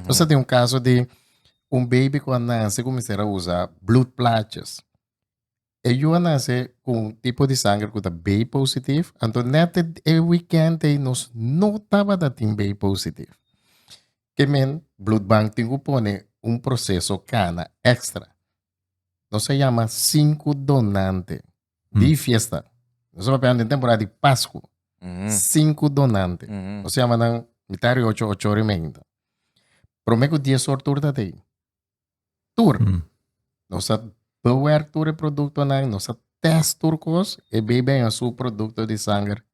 Nos a tin un kaso di un baby ku a nase kuminsar a usa bloed plaatjes. E yu a nase ku un tipo di sanger ku ta B positief, anto nèt e wikènt ei nos no tabata tin B positief. Ke men bloedbank tin ku pone un proseso kana èkstra. Nos a yama sinku donante di fiesta. Nos a papia den temporada di Pascu. Sinku donante. Nos yama nan mitad di ocho, ocho ora y media. Prome ku dies or tur ta tei. Tur. Nos a bewerk tur e produktonan, nos a test tur kos, e bei beng a su produkto di sanger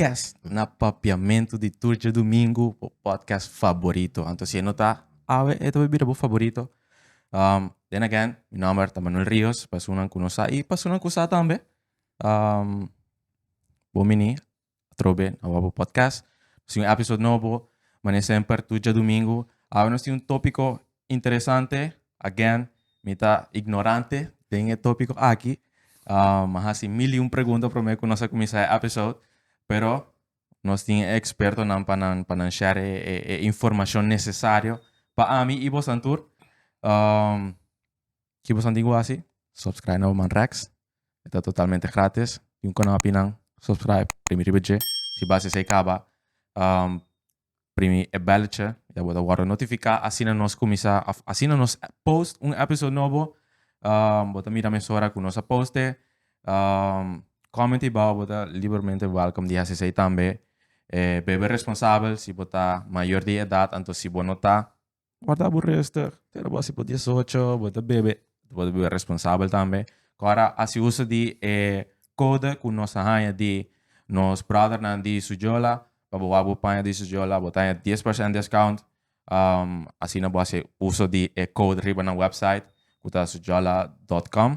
Kes na papiamentu di tur djadumingu bo podcast faborito anto si e no ta awe e ta por bira bo faborito um, then again mi nomber ta Manuel Rios pasunnan ku no sa i pasunnan ku sa tambe um, bo mini atrobe na wabo podcast si un episode nobo mane semper tur djadumingu awe nos tin un topiko Interesante, again, mi ta ignorante den e topico aki. Um, a hasi mil y un pregunta prome cu nos a cuminsa e episode, pero nos tin e expertonan pa nan, pa nan share e, e, e informacion necesario pa ami y bosan tur. Um, ki bosan tin cu hasi? Subscribe na Oman Rex. E ta totalmente gratis. Tin un canapinan, subscribe, primi riba dje. Si bas esey caba, um, Primi e belletje ya bo ta wòrdu notifiká asina nos kuminsá òf asina nos post un episode nobo. Bo ta mira mesora ku nos a poste. Kòmenti bou bo ta libermente wèlkòm di hasi esei tambe. Bebe responsabel, si bo ta mayor di edat anto si bo no ta Wòrda bo rustig. Keda bo así pa diesocho, bo ta bebe, bo ta bebe responsabel tambe. Ku a hasi uso di e kode ku nos a haña di nos bròdernan di su yola, pa bo wak bo paña di su yola, bo ta haña dies persènt deskount. Asina bo hasi uso di e kode riba nan wèpsait, ku ta suyola dòt kòm.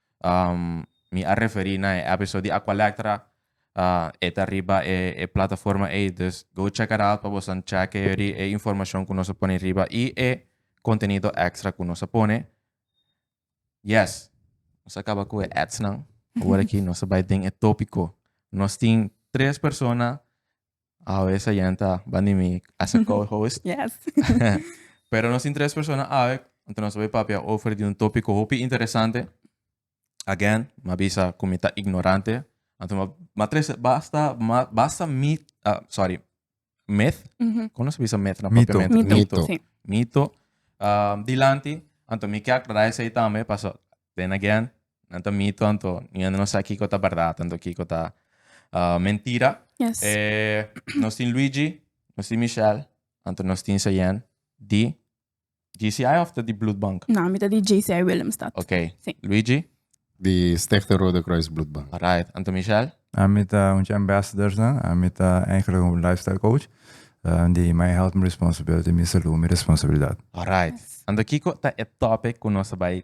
Mi a referí na e episode di Aqualectra. E ta riba e e plataforma ei, dus go check it out pa bosan checke yori e informashon ku nos a pone riba i e kontenido ekstra ku nos a pone. Yes, nos a kaba ku e ads nan. Awor aki nos a bai den e topiko. Nos tin tres persona Awe esa yente a bani mi a sa co-host. Yes. Pero nos tin tres persona awe, anto nos a bay papia over di un topico hopi interesante. Again, m'a bisa cu mi ta ignorante. Anto m'a m'a tres basta ma basta mi ah sorry myth, Ujú. como nos a bisa myth na Mito. propiamente? Mito. Mito. Sí. Mito. Ah, dilanti, anto mi kiak raise ay tambe paso Then again, nan ta mito, anto mi ende no sa kiko ta bardad, anto kiko ta mentira. Yes. E nos tin Luigi, nos tin Michelle, anto nos tin Sayen di GCI of ta di Bloedbank? Na, mi ta di GCI Willemstad. Ok. Si. Luigi? Di Stichting Rode Kruis Bloedbank. Alright. Anto Michelle? Ami ta un di ambassadorsnan. Ami ta eigenlijk un lifestyle coach. Di My Health, My Responsibility, Mi Salud, Mi Responsabilidad. Alright. Anto kiko ta e topic cu nos ta bay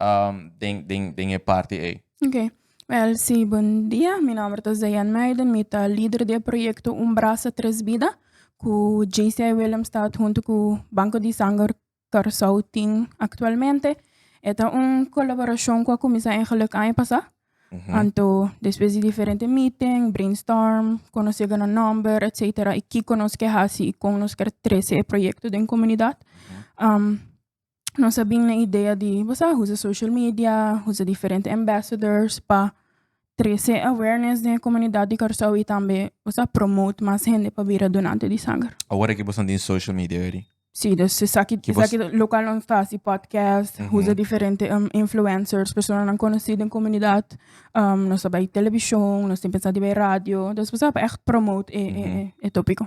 um, den, den, den e parti ei. Ok. Wel, sí, bon dia. Mi nomber ta Zayan Meiden. Mi ta líder di e proyecto Un Brasa Tres Bida, cu JCI Willemstad junto cu Banco di Sanger Curaçao tin actualmente. E ta un colaboracion cu a cuminsa en Geluk aña pasa. Mhm. Anto, despues di diferente meeting, brainstorm, conoce gan un nomber, etcetera, y kiko nos ke haci y con nos ker trece e proyecto den comunidad. Um, nos a bin na idea di basá usa social media, usa diferente ambassadors pa trese awareness den e komunidat di Kòrsou i tambe basá promote mas hende pa bira donante di sanger. Awor aki boso tin social media ready? Sí, dus esaki Ki bos- esaki lokal nos ta hasi podcast, usa diferente um influencers, personanan konosí den komunidat, um nos ta bai televishon, nos tin pensá di bai radio, dus basá pa ègt promote e e e tópiko.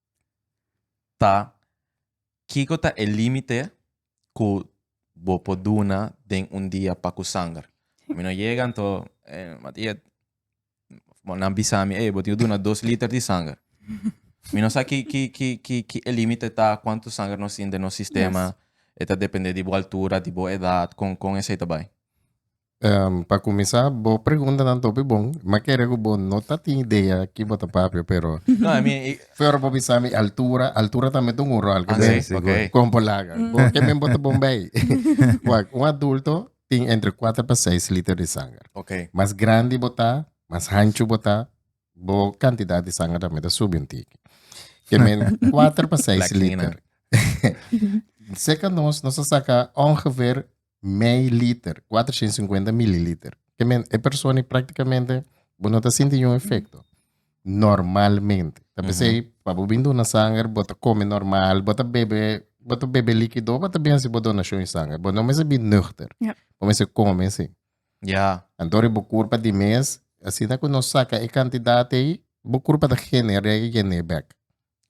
ta kiko ta e limite ku bo por duna den un dia pa ku sanger? Mi no yega anto Matia nan bisa mi ey bo tin ku duna dos liter di sanger. Mi no sa ki ki ki ki ki e limite ta kuantu sanger nos tin den nos sistema e ta depende di bo altura di bo edat kon kon esei ta bai. Um, pa kuminsá, bo preguntanan topi bon. Ma kere ku bo no ta tin idea ki bo ta papia, pero No, I mean, i- Pero bo bisa mi altura, altura también tiene un rol. Ah, sí, sí, güey. Con polaga. Bo que me bota bombay. Wak, un adulto tiene entre 4 para 6 litros de sangre. okay. Más grande bota, más ancho bota, bo cantidad de sangre también te sube un tiki. Que men 4 para 6 Black litros. Nina. Seca nos, nos saca ongeveer mei liter, cuatrocientos cincuenta mililiter. Que men, e persona prácticamente bo no ta sinti un efecto. Normalmente. Ta pensé, mm -hmm. pa bo bin duna sanger, bo ta come normal, bo ta bebe, bo ta bebe líquido, bo ta bin si bo donación sanger. Bo no mese bin nuchter. Yeah. Bo mese come si. Ja. En door bo curpa di mes, así na que no saca e cantidad ei, bo curpa da genere, genebek.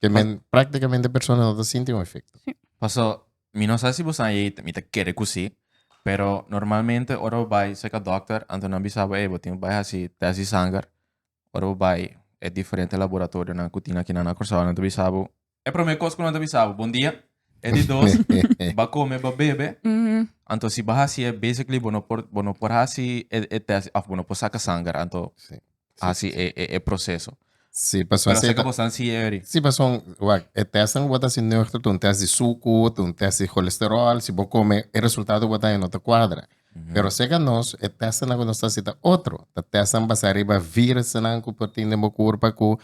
Que men, prácticamente persona no ta sinti un efecto. Paso, mi no sa si boso a yei, mi ta kere cu si, pero normalmente ora bo bai cerca dokter, anto nan bisa bo, ey, bo tin bai haci test di sanger, ora bo bai e diferente laboratorionan cu tin akinan na Curaçao, nan ta bisa bo, e prome cos cu nan ta bisa bo, bon dia, e di dos, ba come, ba bebe, anto si bo haci e, basically bo no por, bo no por haci e, e test, of bo no por saca sanger, anto, hasi e e e proseso. Sí, paso Pero así así que ta- vos han sigue ahí. Sí, paso, wak, e test nan wata si nuchter, tu un test di suku, tu un test di cholesterol, si bo come, e resultado wata e no ta cuadra. Pero seca nos, e test nan ku nos ta si ta otro, ta test nan basa riba virus nan ku por tin den bo kurpa ku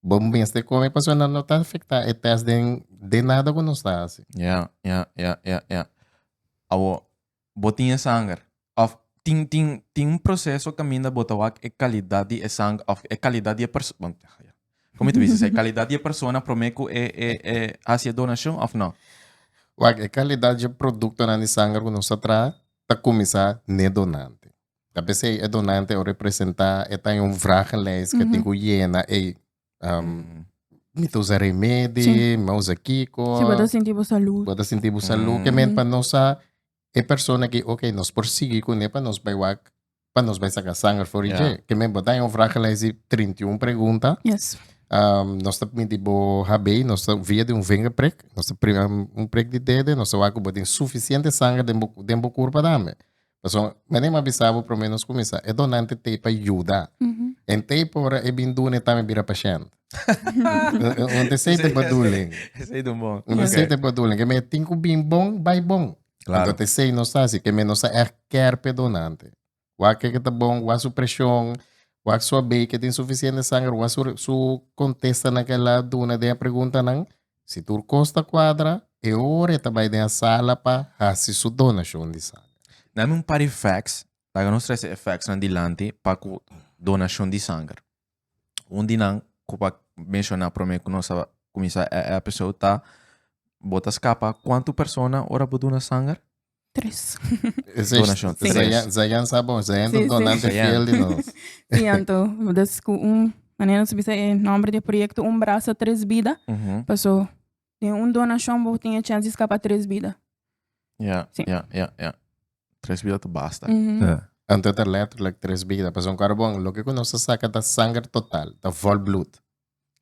bo mes te come, paso nan no ta afecta e test den, den nada ku nos ta hasi. Ja, ja, ja, ja, ja. Awo, Bo tin e sanger. Of tin tin tin un proceso caminda bo ta wak e calidad di e sanger of e calidad di e persona bon ya ya. Como mi ta bisa esey? E calidad di e persona prome cu e e e haci e donacion of no? Wak e calidad di e productonan di sanger cu nos ta traha ta cuminsa n'e donante. Ta bisa esey e donante a representa e ta den un vragenlijst cu e tin cu yena ey Um, mi ta usa remedi, sí. mi usa kiko. Sí, para sentir por salud. Para sentir por salud. Mm. Que men para nos a e persona que, ok, nos por seguir con él para nos vai wak, para nos vai sacar sangre for yeah. Que men botar un vraag gelijk die 31 pregunta. Yes. Um, nos ta permitir bo habei, nos ta via de un vinger prick, nos ta um, un prick de dede, nos ta wak bo den suficiente sangre den bo, den bo curpa dame. Pasobra menem a bisa bo promé nos kuminsá e donante t'ei pa yuda. En t'ei pa ora e bin duna e tambe bira pashènt. Un desei den baduling. Esei ta bon. Un desei den baduling. Kem'e tin ku bin bon, bai bon. Klaro. Pasobra t'esei nos ta hasi. Kem'e nos ta ègt kèr p'e donante. Wak ke ke ta bon, wak su preshon, wak su a bei ke tin sufisiente sanger, wak su kontestanan ke el a duna den e preguntanan. Si tur kos ta kuadra, e ora e ta bai den e sala pa hasi su donashon di sanger. Nami un par di fèks. Laga nos trese e fèksnan dilanti pa ku donashon di sanger. Un di nan ku pa menshoná promé ku nos a kuminsá e èpisode ta, Bo ta skapa kuantu persona ora bo duna sanger? Tres. Donashon. Zayan sa bon. Zayan tu donante fiel di nos. Si, anto. Dus ku un, manera nos a bisa e nòmber di e proyekto, Un Brasa Tres Bida. Paso, den un donashon bo tin e chèns di skapa tres bida. Ya, ya, ya, ya. Tres bida ta basta. Anto ta lètterlèk tres bida. Paso un kòrda bon, loke ku nos ta saka ta sanger total, ta vòl blùt.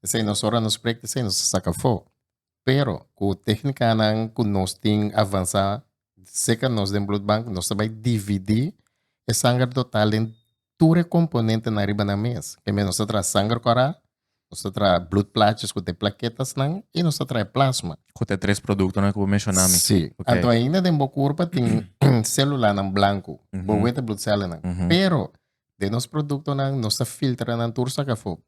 Esei nos ora nos sprek di esei, nos ta saka fo. Pero ku tehnikanan ku nos tin avansá serka nos den blutbank, nos ta bai dividí e sanger total den tur e komponentenan riba nan mes. Promé nos ta traha sanger kòrá, nos ta traha blutplaatjes ku ta e plaketasnan i nos ta traha e plasma. Ku ta e tres produktonan ku bo menshoná mi. Sí. Anto ainda den bo kurpa tin sélulanan blanku, bo wet e blutsèllenan. Pero den nos produktonan nos ta filtra nan tur sak afó.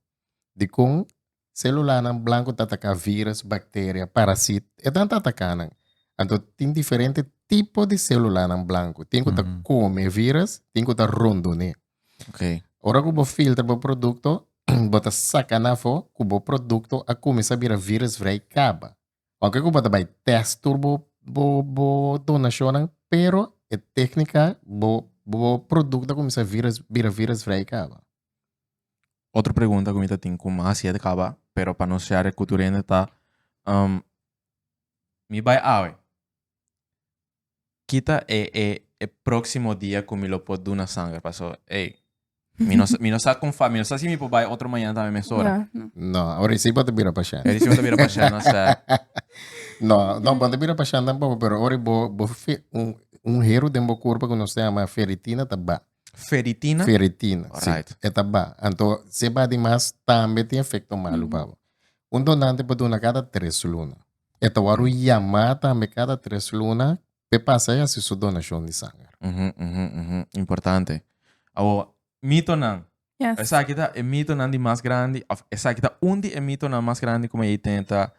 Dikon? Selulanan blanku ta ataka virus, bakteria, parasit, edan ta ataka nan. Anto tin diferente tipo di selulanan blanku. Tin ku ta kome e virus, tin ku ta rondoné. Okay. Ora ku bo filtra bo produkto, bo ta saka nan afó ku bo produkto a kuminsá bira virus vrei kaba. Oke ku bo ta bai tèst tur bo bo bo donashonnan, pero e téknika bo bo produkto a kuminsá virus bira virus vrei kaba. otro pregunta cu mi ta tin cu mi a hasi e ta caba, pero pa nos share e cu tur hende ta, um, mi bay awe, ki ta e, e, e proximo dia cu mi lo por duna sanger? Paso, ey, mi no, mi no sa con fa, mi no sa si mi por bay otro mañana tambe mes ora. Ja, no. No, ora si bo te bira pashent. Eri si bo te bira pashent, no sa. No, no, bo te bira pashent tampoco, pero ora bo, bo fe, un, un hero den bo cuerpo cu nos te ama ferritina ta ba. Feritina? Feritina, si. Alright. E ta ba. Anto, si e ba di mas, tambe tin efekto malu pa bo. Un donante por duna kada tres luna. E ta wòrdu yamá tambe kada tres luna pa e pasa a hasi su donashon di sanger. Uhu, uhu, uhu. Importante. Awoba, mitonan. Yes. Esaki ta e mitonan di mas grandi, òf esaki ta un di e mitonan mas grandi ku mi ei tene ta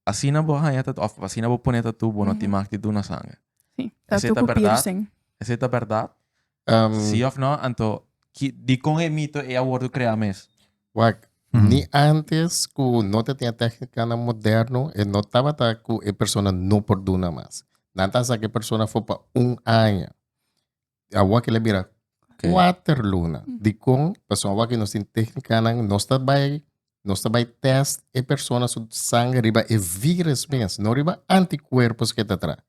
Asina bo haña tatu, of asina bo pone tatu, bo no tin mag di duna sangre. Sí, Esei tatu ta ku bèrdat? piercing. Esei ta bèrdat? Ehm, Si of no, anto ki, dikon e mito ei a wordu kreá mes? Wak, ni antes ku no tatinga téhnikanan moderno, e no tabata ku e persona no por duna mas. Nan ta saka e persona afó pa un aña. Awa kila bira okay. cuater luna. Mm. Di con, paso awa que nos tin técnica, nos está bay nos está bay test e persona su sangre riba e virus mes, no riba anticuerpos que está tra.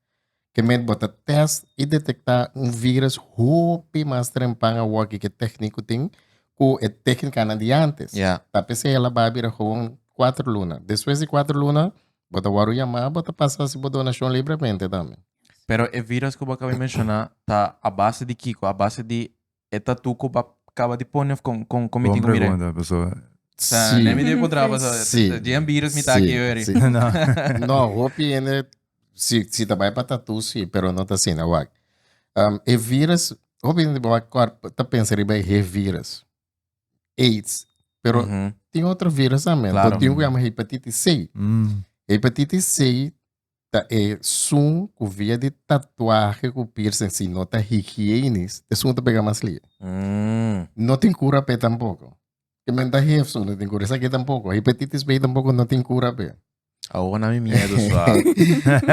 Que met bota test y detecta un virus hopi más trempan awa que que técnico tin, cu e técnica na di antes. Yeah. Tapi se la babira gewoon cuatro luna. Después de cuatro luna, bota waru llamar, bota pasar si bo donación libremente también. Pero e virus ku bo a kaba di menshoná ta a base di kiko? A base di e tatu ku bo a kaba di pone òf kon kon kon mi tin ku mira e? Bon pregunta, pasobra Sa si nèm i debe kontrá bo sa Si. djen virus mi ta aki oi ori. si no No, hopi hende si si ta bai pa tatu si, pero no ta asina. Wak. Am, e virus, hopi hende wak kòr ta pensa riba e hiv virus, aids, pero Mhm. tin otro virus tambe. Claro. Tin un ku yama hepatitis C. Mm. Hepatitis C ta e sun ku via di tatuahe ku piercing si no ta higienis e sun ta pega mas lie. Mm. No tin kura pe tampoko. Ke men ta hef so no tin kura. Esaki tampoko. Hepatitis B tampoko no tin kura pe. Awo na mi miedo swa.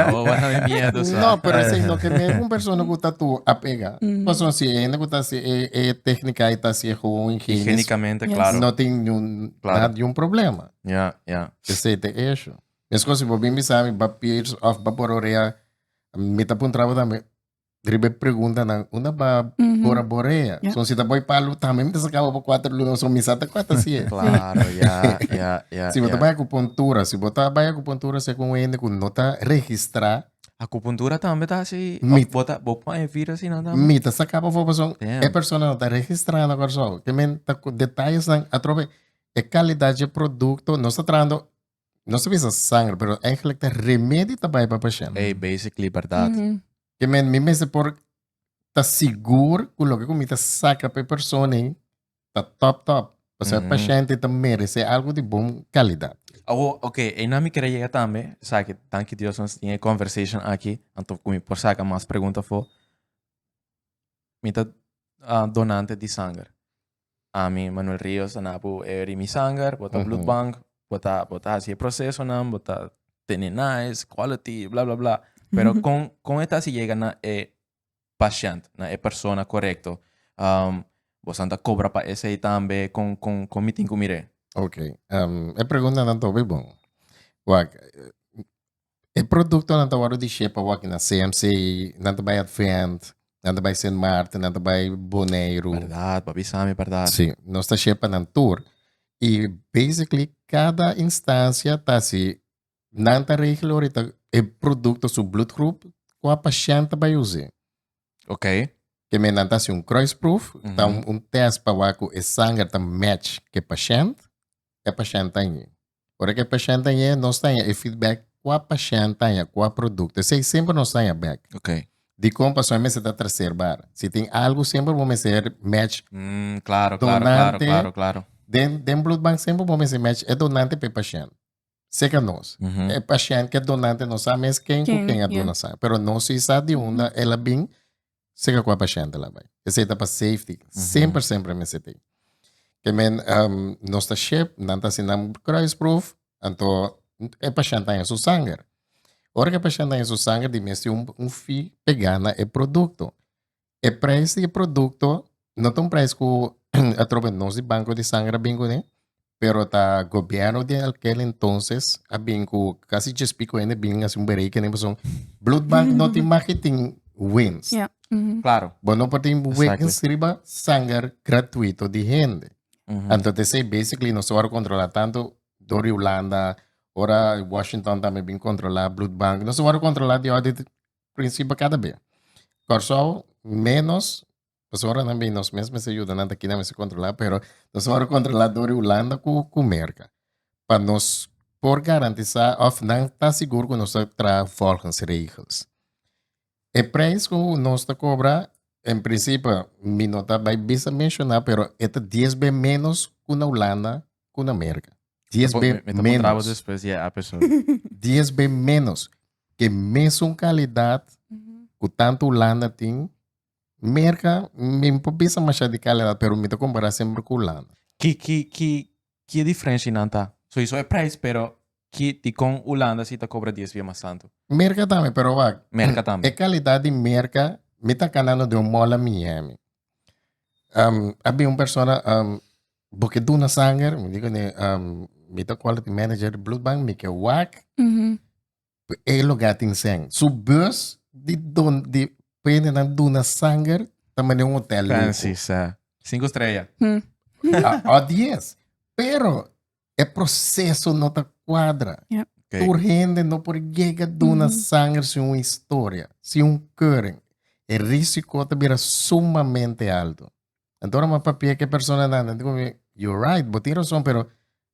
Awo na mi miedo swa. No, pero si no ke men un persona ku tatu a pega. Mm. Paso si e hende ku ta si e e teknika ai ta si e gewoon higienis. Higienikamente, klaro. No tin niun Klaro. nada di un problema. Ya, ya. Esei ta e ishu. Meskos si bo bin bisa mi ba pirs of ba bora orea mi ta puntra bo tambe riba e preguntanan unda ba bora borea so si ta bo palu tambe mi ta saka bo pa cuatro luna so mi sa ta cua ta hacier claro ya ya ya si bo ta bai acupuntura si bo ta bai acupuntura si cu un hende cu no ta registra acupuntura tambe ta haci mi bo ta bo pone vira si nan tambe mi ta saka bo fo pasobra e persona no ta registra na Kòrsou ke men ta cu detalles nan atrobe e calidad dje producto nos ta trahando No se bisa sangre, pero eigenlijk ta remedi ta bai pa pasien. Hey, basically, verdad. Mm -hmm. Que men, mi mese por ta sigur cu lo que mi ta saca pe persona ta top top. O sea, mm -hmm. paciente ta merece algo de bom calidad. Oh, ok, e na mi querer llegar también, o sea, que dank Dios nos tiene conversation aquí, anto cu mi por saca más preguntas fo, mi ta uh, donante de sangre. Ami Manuel Rios ta na bo e Rimi Sanger, bo ta bloed bank, bo ta bo ta hasi e procesonan, bo ta tene nice, quality, bla bla bla. Pero con con e ta hasi yega na e pashent, na e persona corecto? Um, bosan ta cobra pa esey tambe? Con con con mi tin cu mir'e? Ok, um, e preguntanan ta hopi bon. Wak, E produktonan ta wòrdu dishé pa wak na CMC, nan ta bai Advent, nan ta bai Sint Maarten, nan ta bai Boneiru. Bèrdat, papi Sami, bèrdat. Sí, nos ta share pa nan tur. I basically kada instancia ta hasi, nan ta regla ahorita e produkto su bloedgroep ku a pashènt ta bai us'é. Ok. Te men nan ta hasi un kruisproef, ta un tèst pa wak ku e sanger ta match ku e pashènt, e pashènt ta ñi. Ora cu e pashent a yega, nos ta haña e feedback cua pashent ta haña, cua producto. Esey semper nos ta haña bek. Ok. Dicon pasobra e mester ta traser bar. Si tin algo, semper bo mester match. Mm, claro, claro, claro, Donante. claro, claro. Den, den bloedbank semper bo mester match e donante pe pashent. Seca nos. Mhm. E pashent cu e donante no sa mes ken cu Ken, ken a ya. duna sa. Pero nos si sa di unda el a bin, Sega cu a paciente la bay. Esey ta pa safety. Mm -hmm. Semper, semper mester tin. Que men, um, nos ta ship, nan ta si nan kruisproef, anto e paciente ta en su sanger. Ora que e paciente ta en su sanger, di mes tin un, un fee pega na e producto. E prijs di e producto No ta un prijs ku atrobe nos di banko di sanger a bin kuné, pero ta gobièrnu den akel entonses a bin ku kasi djes piko hende bin hasi un berekening pasobra bloed bank no tin mak ke tin winst. Ja. Mhm. Claro. Bo no por tin Exactly. winst riba sanger gratuito di hende. Mhm. Anto te sei basically no sora controla tanto door di Holanda, ora Washington tambe bin controla bloed bank. No sora controla di orde principe cada be. Corsou menos Pasobra ora nan bay nos mes mester yuda nan ta kina mester controla pero nos por controla dor Hulanda cu cu Merca pa nos por garantisa of nan ta sigur cu nos ta traha volgens regels e prijs cu nos ta cobra en principe mi no ta bay bisa menciona pero e ta dies be menos cu na Hulanda cu na Merca dies be menos dies be menos ke mesun calidad cu tanto Hulanda tin Merca, mi no por bisa masha di calidad, pero mi ta compara semper cu Hulanda. Ki, ki, ki, ki e diferencia y nan ta? Soiso e prijs, pero ki, dicon Hulanda si ta cobra dies bia mas tanto? Merca tambe, pero wak. Merca tambe. E calidad di Merca, mi ta candando den un mall a Miami. a bin un persona, bo ke duna sanger? Mi dico, mi ta quality manager di Bloedbank, mi ke wak. E lugar tin sen. Su bus di don di pende na duna sanger ta mane un hotel lujo. Fancy, sa. Cinco estrella. A, a diez. Pero e proceso no ta cuadra. Ja. Okay. Tur hende no por llega duna sanger sin un historia, sin un keuring. E risico ta bira sumamente alto. Anto ora mi a papia ke persona nan, nan ta come, you're right, bo tin razon, pero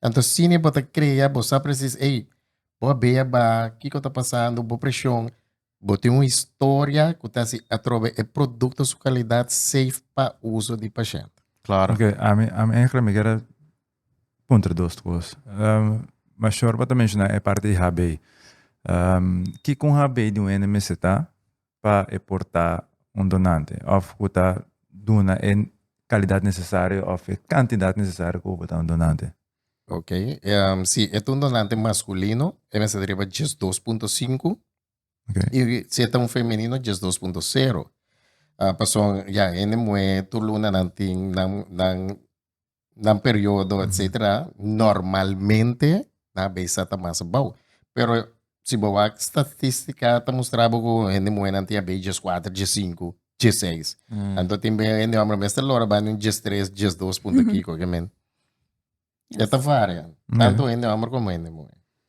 Anto sini bo ta krea, bo sa presis, ey, bo a bea ba kiko ta pasando, bo presion, bo tin un historia ku ta si atrobe e produkto su kalidat safe pa uso di pashent. Klaro. Ok, ami, ami eigenlijk mi kere puntra dos kos. Um, ma Shorba ta menshoná e parti di HB. Um, kiko un HB di un ene mester ta? pa e por ta un donante of cu ta duna e calidad necesario of e cantidad necesario cu bo por ta un donante. Ok, si e ta un donante masculino e mester ta riba dies dos punto sinku y si e ta un femenino dies dos punto sero. Pasobra ya hende muher tur lunanan tin nan nan periodo etcetera normalmente nan a bisa ta mas bou pero si bo wak statistica ta mustra bo cu hende muhe nan tin a bay dies cuater dies cinco dies seis anto tin bay hende homber mester lora banda un dies tres dies dos punto kiko kimen e ta varia tanto hende homber como hende muhe.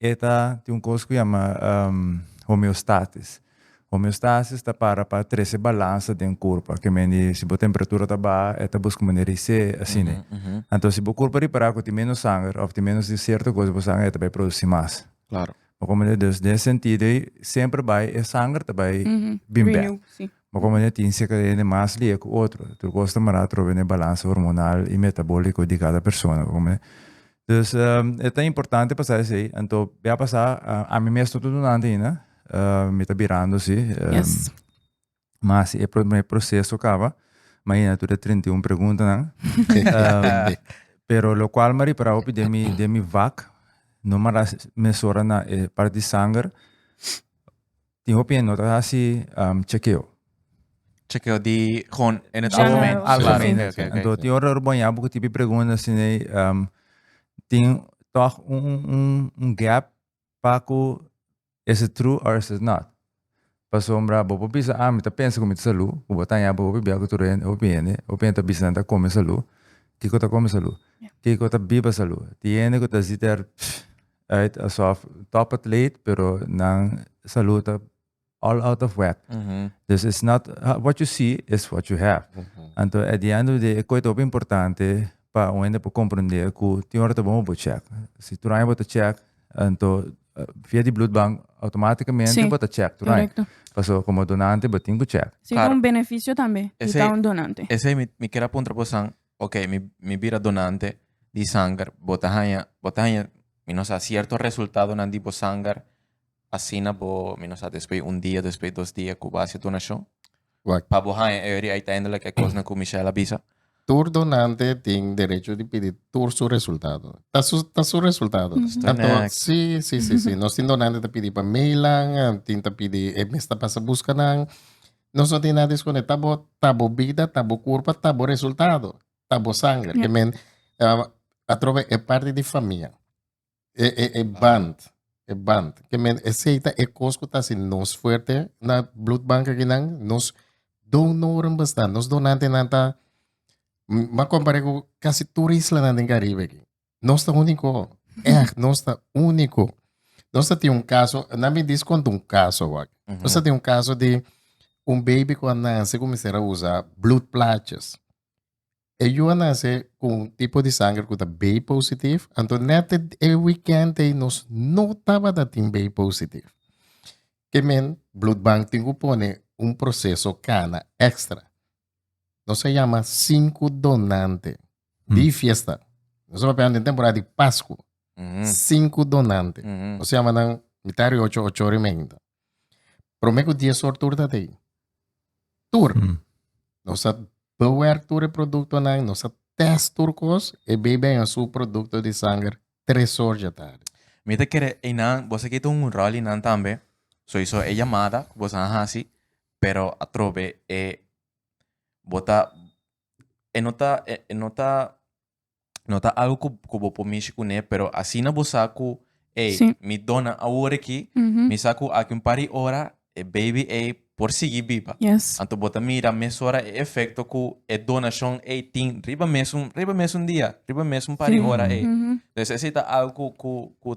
E ta tin un kos ku yama homeostatis. Homeostasis ta para pa trese balansa den kurpa. Ke men di si bo temperatura ta baha e ta buska manera di se asina. Anto si bo kurpa ripara ku tin menos sanger òf tin menos di sierto kos den bo sanger e ta bai produsi mas. Klaro. Bo komprende? Dus den e sentido ei semper bai e sanger ta bai bin bèk. Ma como ne tin seker hende mas lia cu otro, tur cos ta mara atrobe n'e balance hormonal y metabolico di cada persona, oco me. Dus e ta importante pasa esey, anto be a pasa, ami mes no ta duna anto ainda, mi ta birando si, ma asi e primer proceso caba, ma ayina tur e treinta i un preguntanan, pero locual m'a ripara hopi den mi den mi vak, no mara mesora na e parti di sanger, tin hopi hende no ta hasi chekeo. Chekeo di gewoon in het algemeen. General. Algemeen. Oké, oké, oké. Anto tin ora bo baña bo ku tipi pregunta asin ei tin tòg un gap pa ku is it true or is it not. Pasobra bo por bisa a mi ta pensa ku mi ta salú, ku bo ta haña bo hopi biaha ku tur hende, hopi hende, hopi hende ta bisa nan ta kome salú. Kiko ta kome salú? Kiko ta biba salú? Tin hende ku ta si ter. Right asof top atleet pero nan salud ta all out of whack dus it's not what you see it's what you have anto at the end of the day e koe ta hopi importante pa un hende por comprende ku tin ora ta bon pa bo check si tur aña bo ta check anto via di bloed bank automaticamente bo ta check tur aña pasobra como donante bo tin ku check si ta un beneficio tambe di ta un donante esei mi kier a puntra bosan ok mi mi bira donante di sanger bo ta haña bo ta haña mi no sa cierto resultadonan di bo sanger asina bo mi no sa despues un dia despues dos dia cu bo a haci donacion Wacht. pa bo haña e ori uiteindelijk e cosnan cu Michelle a bisa Tur donante tin derecho di pidi tur su resultado. Ta su, ta su resultado. Mhm. Estoy Tanto, next. sí, sí, sí, sí. Nos tin donante ta pidi pa meilan, eh, tin ta pidi, e mes ta pasa busca nan. Nos no tin nada esconde, ta bo, ta bo bida, ta bo curpa, ta bo resultado, ta bo sangre. Yeah. Men, uh, atrobe e parte di familia, e, e, e band, e band. Que men, e seita e cos que ta si nos fuerte na bloedbank aquí nan, nos donoren bestaan, nos donante nan ta, ma comparé cu casi tur isla nan den Caribe aquí. Nos ta único. Echt, nos ta único. Nos ta tin un caso, na mi dis conta un caso wak. Mm -hmm. Nos ta tin un caso di un baby cu a nace cu mister a usa bloed plaatjes. E yu a nace cu un tipo di sangre cu ta B positief, anto net e weekend ei nos no tabata tin B positief. Ke men, bloedbank tin cu pone un proceso cana extra. Nos a yama sinku donante di fiesta. Nos a papia den temporada di Pasku. Sinku donante. Nos a yama nan mitad ri ocho, ocho ri meinta. Prome ku dies or tur ta tei. Tur. Nos a bewerk tur e produktonan, nos a tèst tur kos, e bei beng a su produkto di sanger tres or dje tardi. Mi ta kere einan, boso a kita un ròl einan tambe. Soiso e yamada ku boso a hasi pero atrobe e bo ta e no ta e e no ta no ta algo ku ku bo por mishi kuné pero asina bo sa ku ey Sí. mi dona awor aki Mhm. mi sa ku aki un par di ora e baby ey por sigui biba Yes. anto bo ta mira mesora e efekto ku e donashon ey tin riba mesun riba mesun dia riba mesun par di Sí. ora ey Mhm. entonces esei ta algo ku ku ku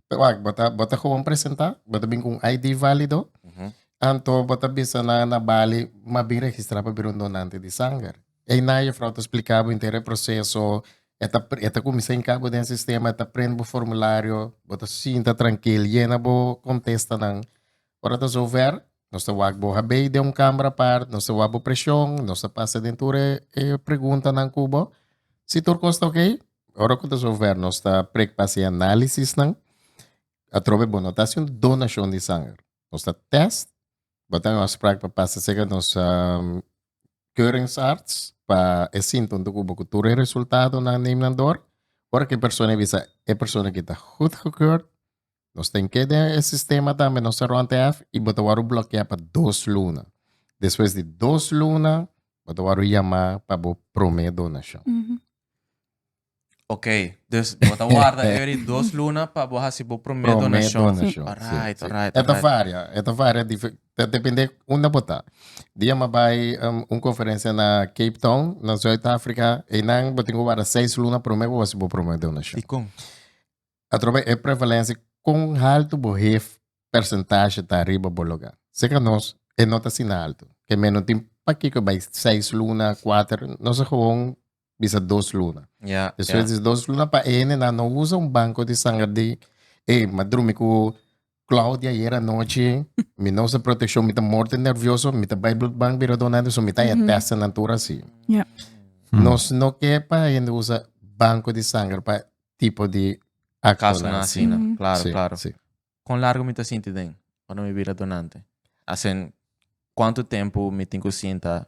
wak, bo ta, bo ta gewoon presentá, bo ta bin ku un ID válido, anto bo ta bisa nan na bali mas bin registrá pa bira un donante di sanger. Einan jefrouw ta spliká bo henter e proseso, e ta, e ta kuminsá hinká bo den sistema, e ta prende bo formulario, bo ta sinta trankil, yena bo kontestanan. Ora ta zover, nos ta wak bo habei den un kámara apart, nos ta wak bo preshon, nos ta pasa den tur e preguntanan ku bo. Si tur kos ta okey, Ora ku ta zover nos ta prekpa si analisisnan atrobe bo no ta hasi un donashon di sanger. Nos ta tèst, bo ta haña un afsprak pa pasa serka nos keuringsarts pa e sinta un tukuba ku tur e resultadonan neem nan dor. Ora ku e persona a bisa e persona kita gud gekeurd. Nos tin ke den e sistema tambe nos ta rond ef i bo ta wòrdu blòkiá pa dos luna. Despues di dos luna bo ta wòrdu yamá pa bo promé donashon. Oké, dus bo ta warda e di dos luna pa bo hasi bo promé Promé donashon. donashon. Alright, Sí, sí. alright, E ta alright. varia, e ta varia dife- ta depende unda bo ta. Di a mi a bai um, un konferensia na Cape Town, na Zuid-Afrika, einan bo tin ku warda seis luna promé pa bo hasi bo promé donashon. Dikon? Atrobes e prevalencia con halto bo hef percentaje ta riba bo loga. Seca nos e no ta asina alto. Ke men no tin pakico e bay seis luna, cuater, nos a gewoon bisa dos luna. Ja, Despues ja. di dos luna pa ene nan no usa un banco di sanger di, ey, ma drumi cu Claudia ayer anochi, mi no sa proteccion, mi ta morte nervioso, mi ta bai bloedbank bira donante, so mi ta mm testa na tur asi. Yeah. Hmm. Nos no ke pa hende usa banco di sangre pa tipo di acto na asi. Mm. Claro, sí, claro. Sí. Con largo mi ta sinti den, cuando mi bira donante. Asen, cuánto tempo mi tin cu sinta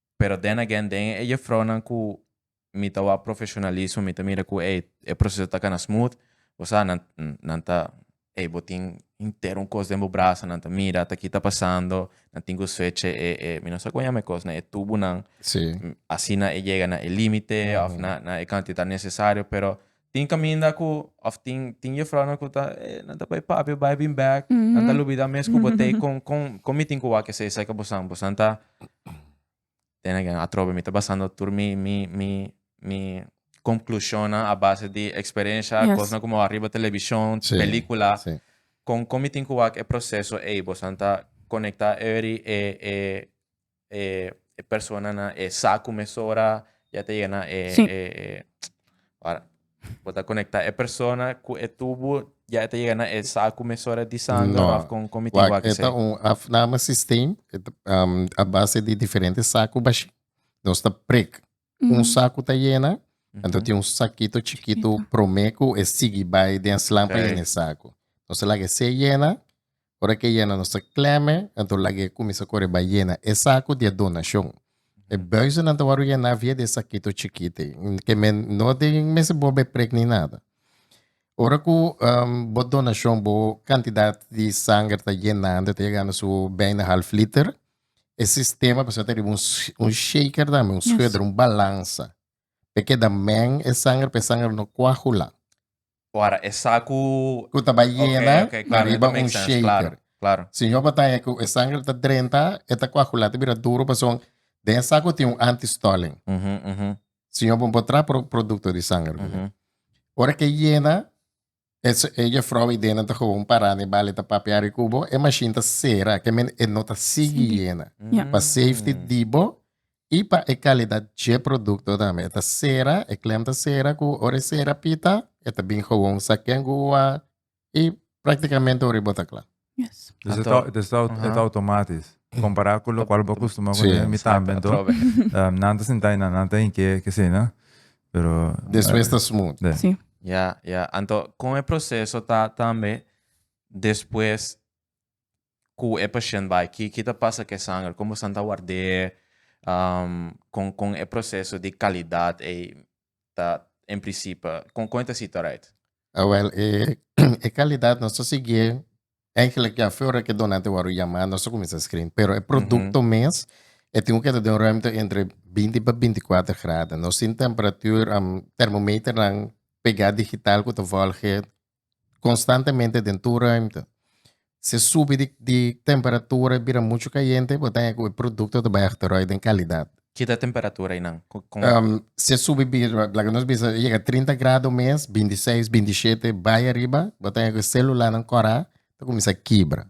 Pero den again den e jefrounan ku mi ta wak profeshonalismo mi ta mira ku ey e proseso ta kana smooth bo sa nan nan ta ey bo tin henter un kos den bo brasa nan ta mira ta ki ta pasando nan tin ku switch e e e mi no sa kon yama e kos nan e tubunan asina e yega na e limite òf na na e kantidat nesesario pero Tin caminda cu, of tin, tin juffrounan cu ta, eh, nan ta bay papi, bay bin bek, nan ta lubida mes cu bo tey con, con, con mi tin cu wak esey cerca bosan, bosan ta, then again, atrobe mi ta basando tur mi, mi, mi, mi conclusionnan a base di experiencia, Yes. cosnan cu mi wak riba television, Sí, pelicula, sí. con, con mi tin cu wak e proceso ey, bosan ta conecta eury e, e, e personanan e sa ku mesora ya ta yega na e sí. e, e wara bo ta konekta e persona ku e tubu ya ta yega na e sa ku mesora di sangre no. of kon kon mi tin wak eta un afname sistem um, a base di diferente sa ku bashi nos ta prik mm -hmm. un sa ku ta yena mm -hmm. anto tin un sakito chikito prome ku e sigi bai den slampa okay. yena saku nos ta laga se yena Ora ke yena nos ta klèm'e, anto laga e kuminsá kore bai yena e saku di e donashon. E bùisonan ta wòrdu yená via di e sakito chikit ei. Ke men no tin mester bobo e prek ni nada. Ora ku bo donashon, bo kantidat di sanger ta yenando, ta yegando su bijna half liter, e sistema pasobra ta riba un shaker tambe, un schuder, un balansa, pa e keda mèn e sanger, pa e sanger no kuahulan. Ora esa ku. Ku ta bai yena Ok, ok, na claro, e ta riba make un sense, shaker. claro, claro. Si Jehová ta haya ku e sanger ta drenta, e ta koagulá, ta bira duru, pasobra den esa ku tin un anti-stalling. Ujú, ujú, Si Jehová bon por traha pro- produkto di sanger. ujú. Ora ke yena, e, se- e jefrouw i dena ta koba un parana i bal, e ta papia ari ku bo, e mashin ta sera, ke men e no ta sigui Sigui. yena. Ja. Pa safety di bo I pa e kalidat dje produkto tambe. E ta sera, e klem ta sera ku ora e sera pita e ta bin gowon sa ken gua i praktikamente ora e bota kla. Dus e ta dus e ta automatis kompará ku lokual bo kustumá kuné mi tambe anto nan ta sintá i nan ta hink'é kesina pero despues ta smut. Ya ya anto kon e proseso ta tambe despues cu e pashent bay ki ki ta pasa cu e sanger como esnan ta ward'e con con e proceso di calidad ey ta en principe con con ta situ right. A wel e e calidad nos ta siguié eigenlijk ya fo ora cu e donante a wordo yama nos ta cuminsa screen pero e producto mes e tin cu keda den un ruimte entre binti pa binti cuatro grada nos tin temperatuur termometernan pega digital cu ta volge konstantemente den tur ruimte. Si e subi di temperatura e bira muchu kayente, bo ta haya ku e produkto ta bai akteroi den kalidat. Ki ta e temperatura einan? Si e subi bira, laga nos bisa, e yega trinta grado mes, binti seis, binti shete, bai ariba, bo ta haya ku e sélulanan kòrá ta kuminsá kibra.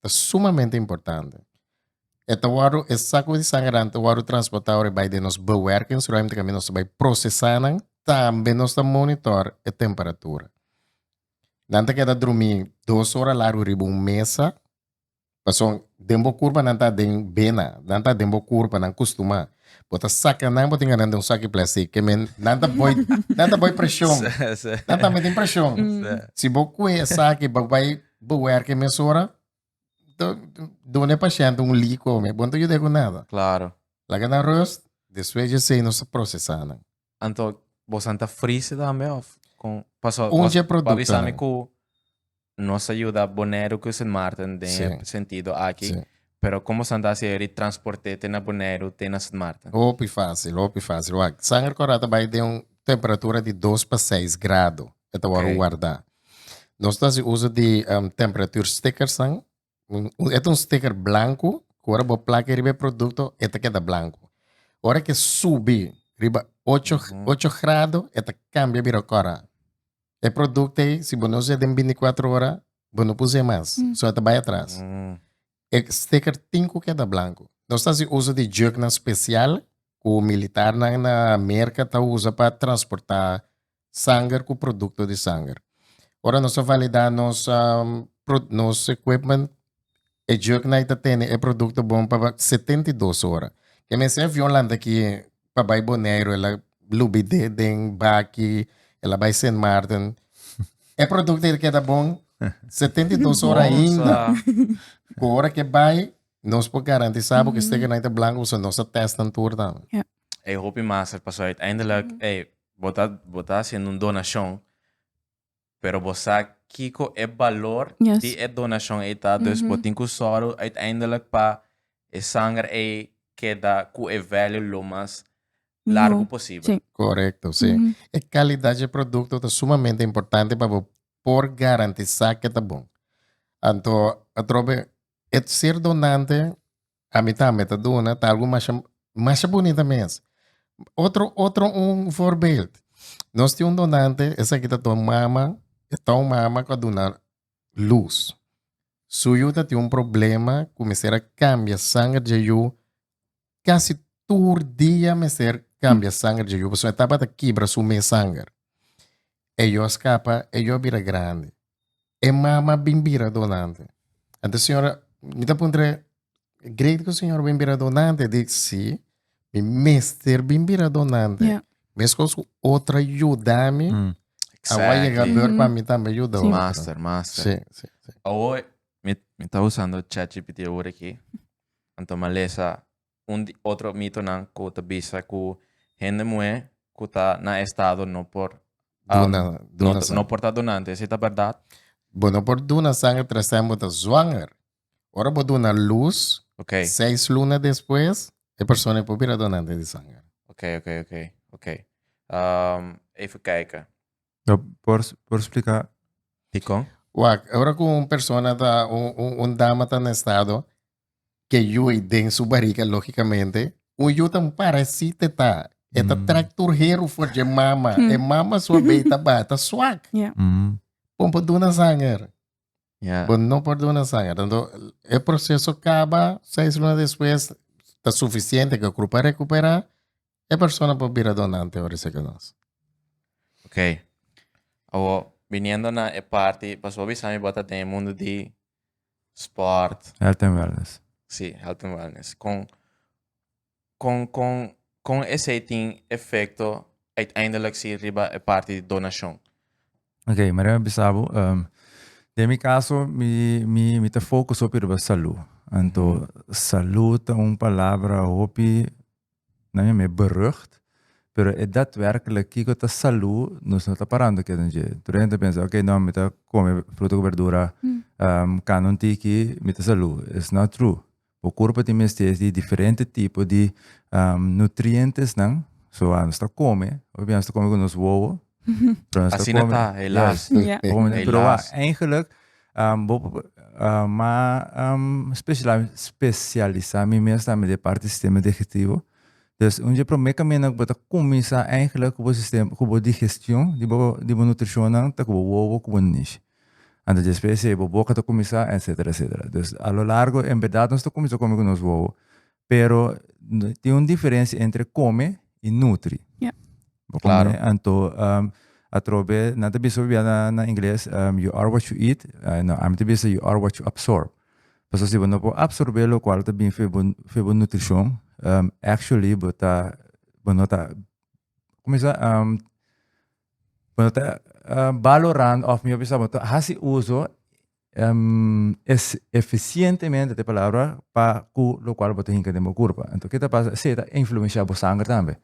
ta sumamente importante. E ta wòrdu, e sakunan di sangernan ta wòrdu transportá ora e bai den nos bewèrkingsruim te kamba nos ta bai prosesá nan, tambe nos ta monitor e temperatura. Nan ta keda drumí dos ora largu riba un mesa, pasobra den bo kurpa nan ta den bena, nan ta den bo kurpa, nan kustumá. Bo ta saka nan, bo ta yega nan den un saki plastik, ke men nan ta bai nan ta bai preshon, nan tambe tin preshon. Si bo kue e saki, bo bai Bo werk e mesora, to done pashente un li kome, bo no ta yuda e ku nada. Klaro. Laga nan rust, despues dje sei nos ta prosesá nan. Anto bosan ta frise tambe òf kon? Paso Un dje bos por avisá mi produktonan. ku nos a yuda Boneiru ku Sint Maarten den e Si. sentido aki, Si. pero kon bosan ta hasi e di transporte te na Boneiru te na Sint Maarten? Hopi fásil, hopi fásil. Wak, sanger kòrá ta bai den un temperatura di dos pa seis grado. e ta wòrdu wardá. Nos ta hasi uso di temperatur stickersnan. E ta un sticker blanku ku ora bo plaka e riba e produkto e ta keda blanku. Ora ke subi riba ocho ocho grado e ta kambia bira kòrá. E produkto ei si bo no usa den binti kuatro ora bo no por usa e mas, so e ta bai atras. E sticker tin ku keda blanku. Nos ta hasi uso di jùknan spesial ku militarnan na Merka ta usa pa transportá. sanger ku produkto di sanger. Ora nos a validá nos nos equipment e juknight ta tene e produkto bon pa setenta i dos ora. Ke mester avion lanta aki pa bai Boneiru el a lubi den baki el a bai Sint Maarten e produkto ei ta keda bon setenta i dos ora ainda ku ora ke bai nos por garantisá bo ku e stekernight ta blanko pasobra nos a tèstnan tur tambe. E hopi mas pasobra uiteindelik Bo ta bo ta haciendo un donacion pero bo sa kico e balor di e donacion ey ta dus bo tin cu solo uiteindelijk pa e sanger ey keda cu e value lo mas largo posible. Correcto, si. E calidad dje producto ta sumamente importante pa bo por garantisa ke ta bon. Anto atrobe e ser donante A mi tambe ta duna, ta algu masha, masha bunita mes. Otro, otro un voorbeeld. Nos tin un donante, esaki ta ton mama, e ton mama cu a duna luz. Su yu ta tin un problema cu mester a cambia sanger dje yu, casi tur dia mester cambia sanger dje yu, pasobra e tabata kibra su mes sanger. E yu a scapa, e yu a bira grandi. E mama bin bira donante. Enta señora, mi ta puntra, great ku señora bin bira donante? Di si, mi mester bin bira donante. Yeah. Meskos ku otra yudami, Mm. awa yega Exactly. beur pa mi tambe yuda otro. Master, master. Sí, sí, sí. Awo, mi, mi ta usando ChatGPT ahora aquí. Anto ma lesa un di otro mitonan ku ta bisa ku hende muhé ku ta na estado no por Duna, duna no, sangre. no por ta donante. Ese ta bèrdat? Bo no por duna sangre trazan bo ta zwanger. Ora bo duna lus, Ok. seis luna despues, e persona e por bira donante di sanger. Ok, ok, ok, ok. Ehm, even kijken. No, por, por explica dikon? Wak, ora ku un persona ta, un, un, un dama ta na estado, ke yu ei den su bariga, lógicamente, un yu ta un parasite ta. E ta trek tur heru for dje mama. E mama su a bei ta ba, ta swak. Ja. Bon por duna sanger. Ja. Bon no por duna sanger. Tanto e proseso kaba, seis luna despues ta sufisiente ke kru pa rekupera, e persona por bira donante ora esaki nos. Ok. Awo, biniendo na e parti, pasobra bo a bisa mi bo ta den e mundu di sport. Health and wellness. Sí, health and wellness. Con, con, con, con ese tin efecto uiteindelijk sí riba e parte di donación. Ok, maar dan besabo, um, ehm, de mi caso, mi, mi, mi te focus op riba salud. Anto, mm. salud ta un palabra hopi Nan e me berucht, pero e datwerkelijk kiko ta salu nos no ta parando keda nan dje. Tur hende ta pensa ok no mi ta kome fruta ku berdura kanda un tiki mi ta salu. It's not true. Bo kurpo tin mester di diferente tipo di nutrientesnan, so a nos ta kome, nos ta kome ku nos wowo. Asina ta, helaas. Helaas. Eigenlijk, um, bo, uh, ma um, speciala, specialisa mi mes también de parte sistema digestivo. Dus un je primer camino que bota comienza eigenlijk cubo sistema, cubo digestión, di bo, di bo nutrición, ta cubo wobo, cubo nish. Ando después se bo boca ta comienza, etcétera, etcétera. Dus a lo largo, en verdad, nos ta comienza come con nos wobo. Pero, tin un diferencia entre come y nutri. Yeah. Claro. Come, anto um, atrobe nan ta bisa bia na, na ingles um, you are what you eat uh, no ami ta bisa you are what you absorb paso si bo no por absorbe lo cual ta bin febo febo nutricion um, actually bo ta bo no ta como is um, bo no ta uh, valorando of mi bisa bo ta hasi uso Eficientemente ta e palabra pa cu locual bo ta hinca den bo curpa. Enton, ke ta pasa? Esei ta influencia bo sanger tambe.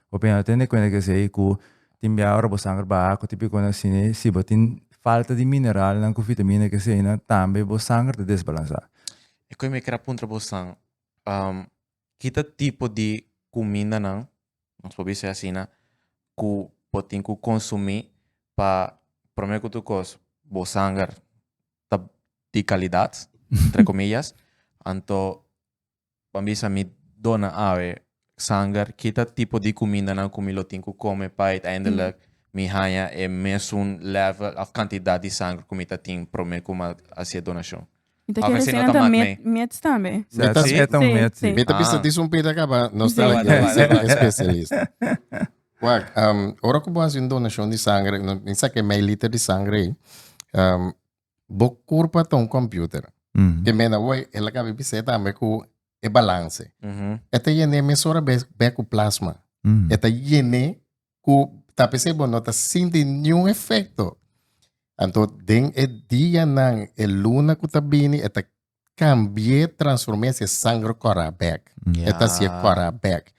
Bo pena ta tene cuenta cu esei cu tin bia ora bo sanger baha cu tin picunnan asina. Si bo tin falta di mineralnan cu vitamina cu eseinan tambe bo sanger ta desbalansa. E cu mi a kere a puntra bosan, kita tipo di kumindanan, nos por bisa asina, ku bo tin ku konsumí pa promé ku tur kos bo sanger ta di kalidat, entre komillas. Anto ban bisa mi dona awe sanger, kita tipo di kumindanan ku mi lo tin ku kome pa uiteindelik mi haña e mesun lèvel òf kantidat di sanger ku mi ta tin promé ku mi a hasié donashon. Mi ta Of kere así no ta sena ta mak met, mee. mets tambe. Mi ta Sí? meta un Sí, met, sí. sí. Mi ta bisa Ah. di un pita kaba, nos ta Sí. like Wada, wada, wada. especialista. Wak, um, ora ku bo hasi un donacion di sangre, no, mi sa ke mei liter di sangre ei, um, bo kurpa ta un computer. Mhm. Ke mena wei, e la kabe bisei tambe ku e balance. Ujú. E ta yene mesora bes, be ku plasma. Mhm. E ta yene ku ta pens'é bo no ta sinti niun efekto. Anto den e dianan, e luna ku ta bini, e ta kambi'é, transform'é si e sanger kòrá bèk. E ta hasié kòrá bèk.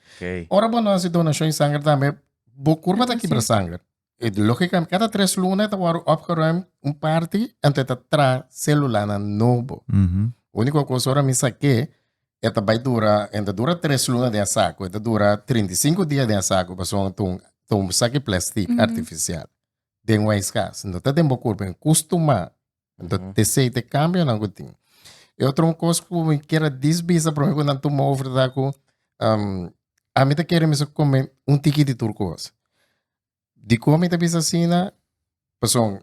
Ora bo no hasi donashon di sanger tambe, bo kurpa ta kibra sanger. E lógikamente, kada tres luna e ta wòrdu opgeruim un parti, anto e ta traha sélulanan nobo. Úniko kos ora mi sak'é, E ta bai dura, e ta dura tres luna den e saku, e ta dura trinta i sinku dia den e saku pasobra ta un ta un saki plèstik artifisial. Den Wise Gas no ta den bo kurpa, en kustu ma. Anto te sei te kambionan ku tin. E otro un kos ku mi ker a dis bisa promé ku nan tuma over ta ku ami ta kere mester kome un tiki di tur kos. Dikon mi ta bisa asina? Pasobra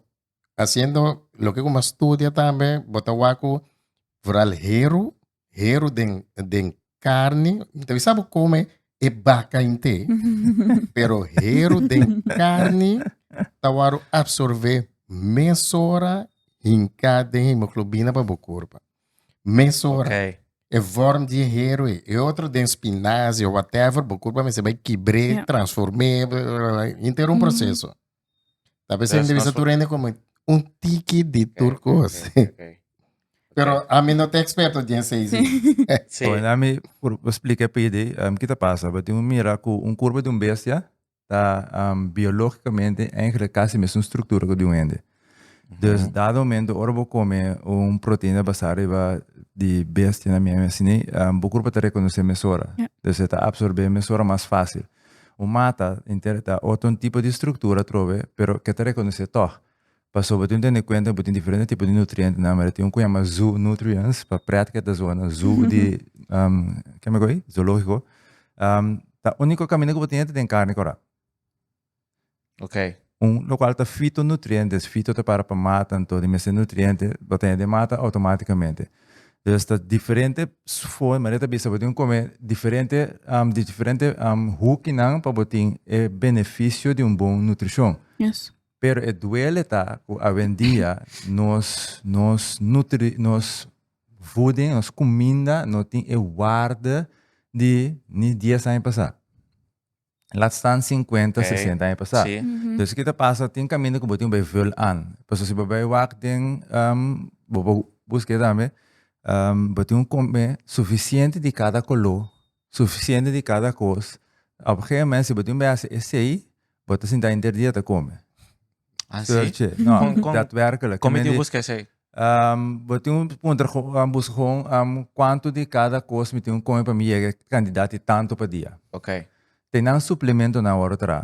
hasiendo loke ku mi a studia tambe bo ta wak ku vooral heru, heru den den karni, mi ta bisa bo kome e baka inte pero heru den karni ta wòrdu apsorbé mesora hinká den hemoglobina pa bo korp, mesora. e vorm di e héroe, e otro den spinazi o whatever, bo kurpa mester bai kibr'é, Ja. transform'é, bla, bla, bla, bla, inter un Mhm. proseso. Ta bes Yes, hende bisa transform- tur hende komo un tiki di tur Ok, kos. ok, ok, ok. Pero ami no ta eksperto den esei sí. Sí. Bueno, ami por por splika e PD, em, kita pasa? Bo tin un mira ku un kurpa di un bestia, ta um, biológicamente eigenlijk casi mesmo structura que de un hende. Dus mm. dado momento, ora bo come un proteína basada riba di bestia na meme, sini, um, bo cuerpo te reconoce mesora. Yeah. Dus te absorbe mesora más fácil. Un mata, inter, ta otro tipo de estructura trove, pero que te reconoce toch. pasobra tin un tene kuenta ku tin diferente tipo di nutrientenan amer a tin un ku yama zoo nutrients pa pret ku e ta zona zoo di keme ku e zoologiko ta uniko kaminda ku bo tin ita den karni kura lokual ta fito nutriente fito ta para pa mata nto di mester nutriente bo tene den mata automaticamente dus ta diferente for manera ta bisa bo tin kome diferente di diferente hoekinan pa bo tin e beneficio di un bon nutricion Pero e duele ta cu awendia nos nos nutri nos voeding, nos cuminda no tin e waarde di ni dies aña pasa. Laat staan cincuenta, Ok, sesenta aña pasa. sí. Dus ki ta pasa tin caminda cu bo tin bay vul aan. Paso si bo bay wak den ehm bo bo busca esaki bo tin un combe suficiente di cada color Sufisiente di kada kos. Op gea moment si bo tin bay hasi esey bo ta sinta henter dia ta come. Searche. No, datwerkelijk. Come tin buska esey? bo tin puntra gon buska gon cuanto di cada kos mi tin come pa mi yega cantidad di tanto pa dia. Okay. Te nan suplemento nan awor tra.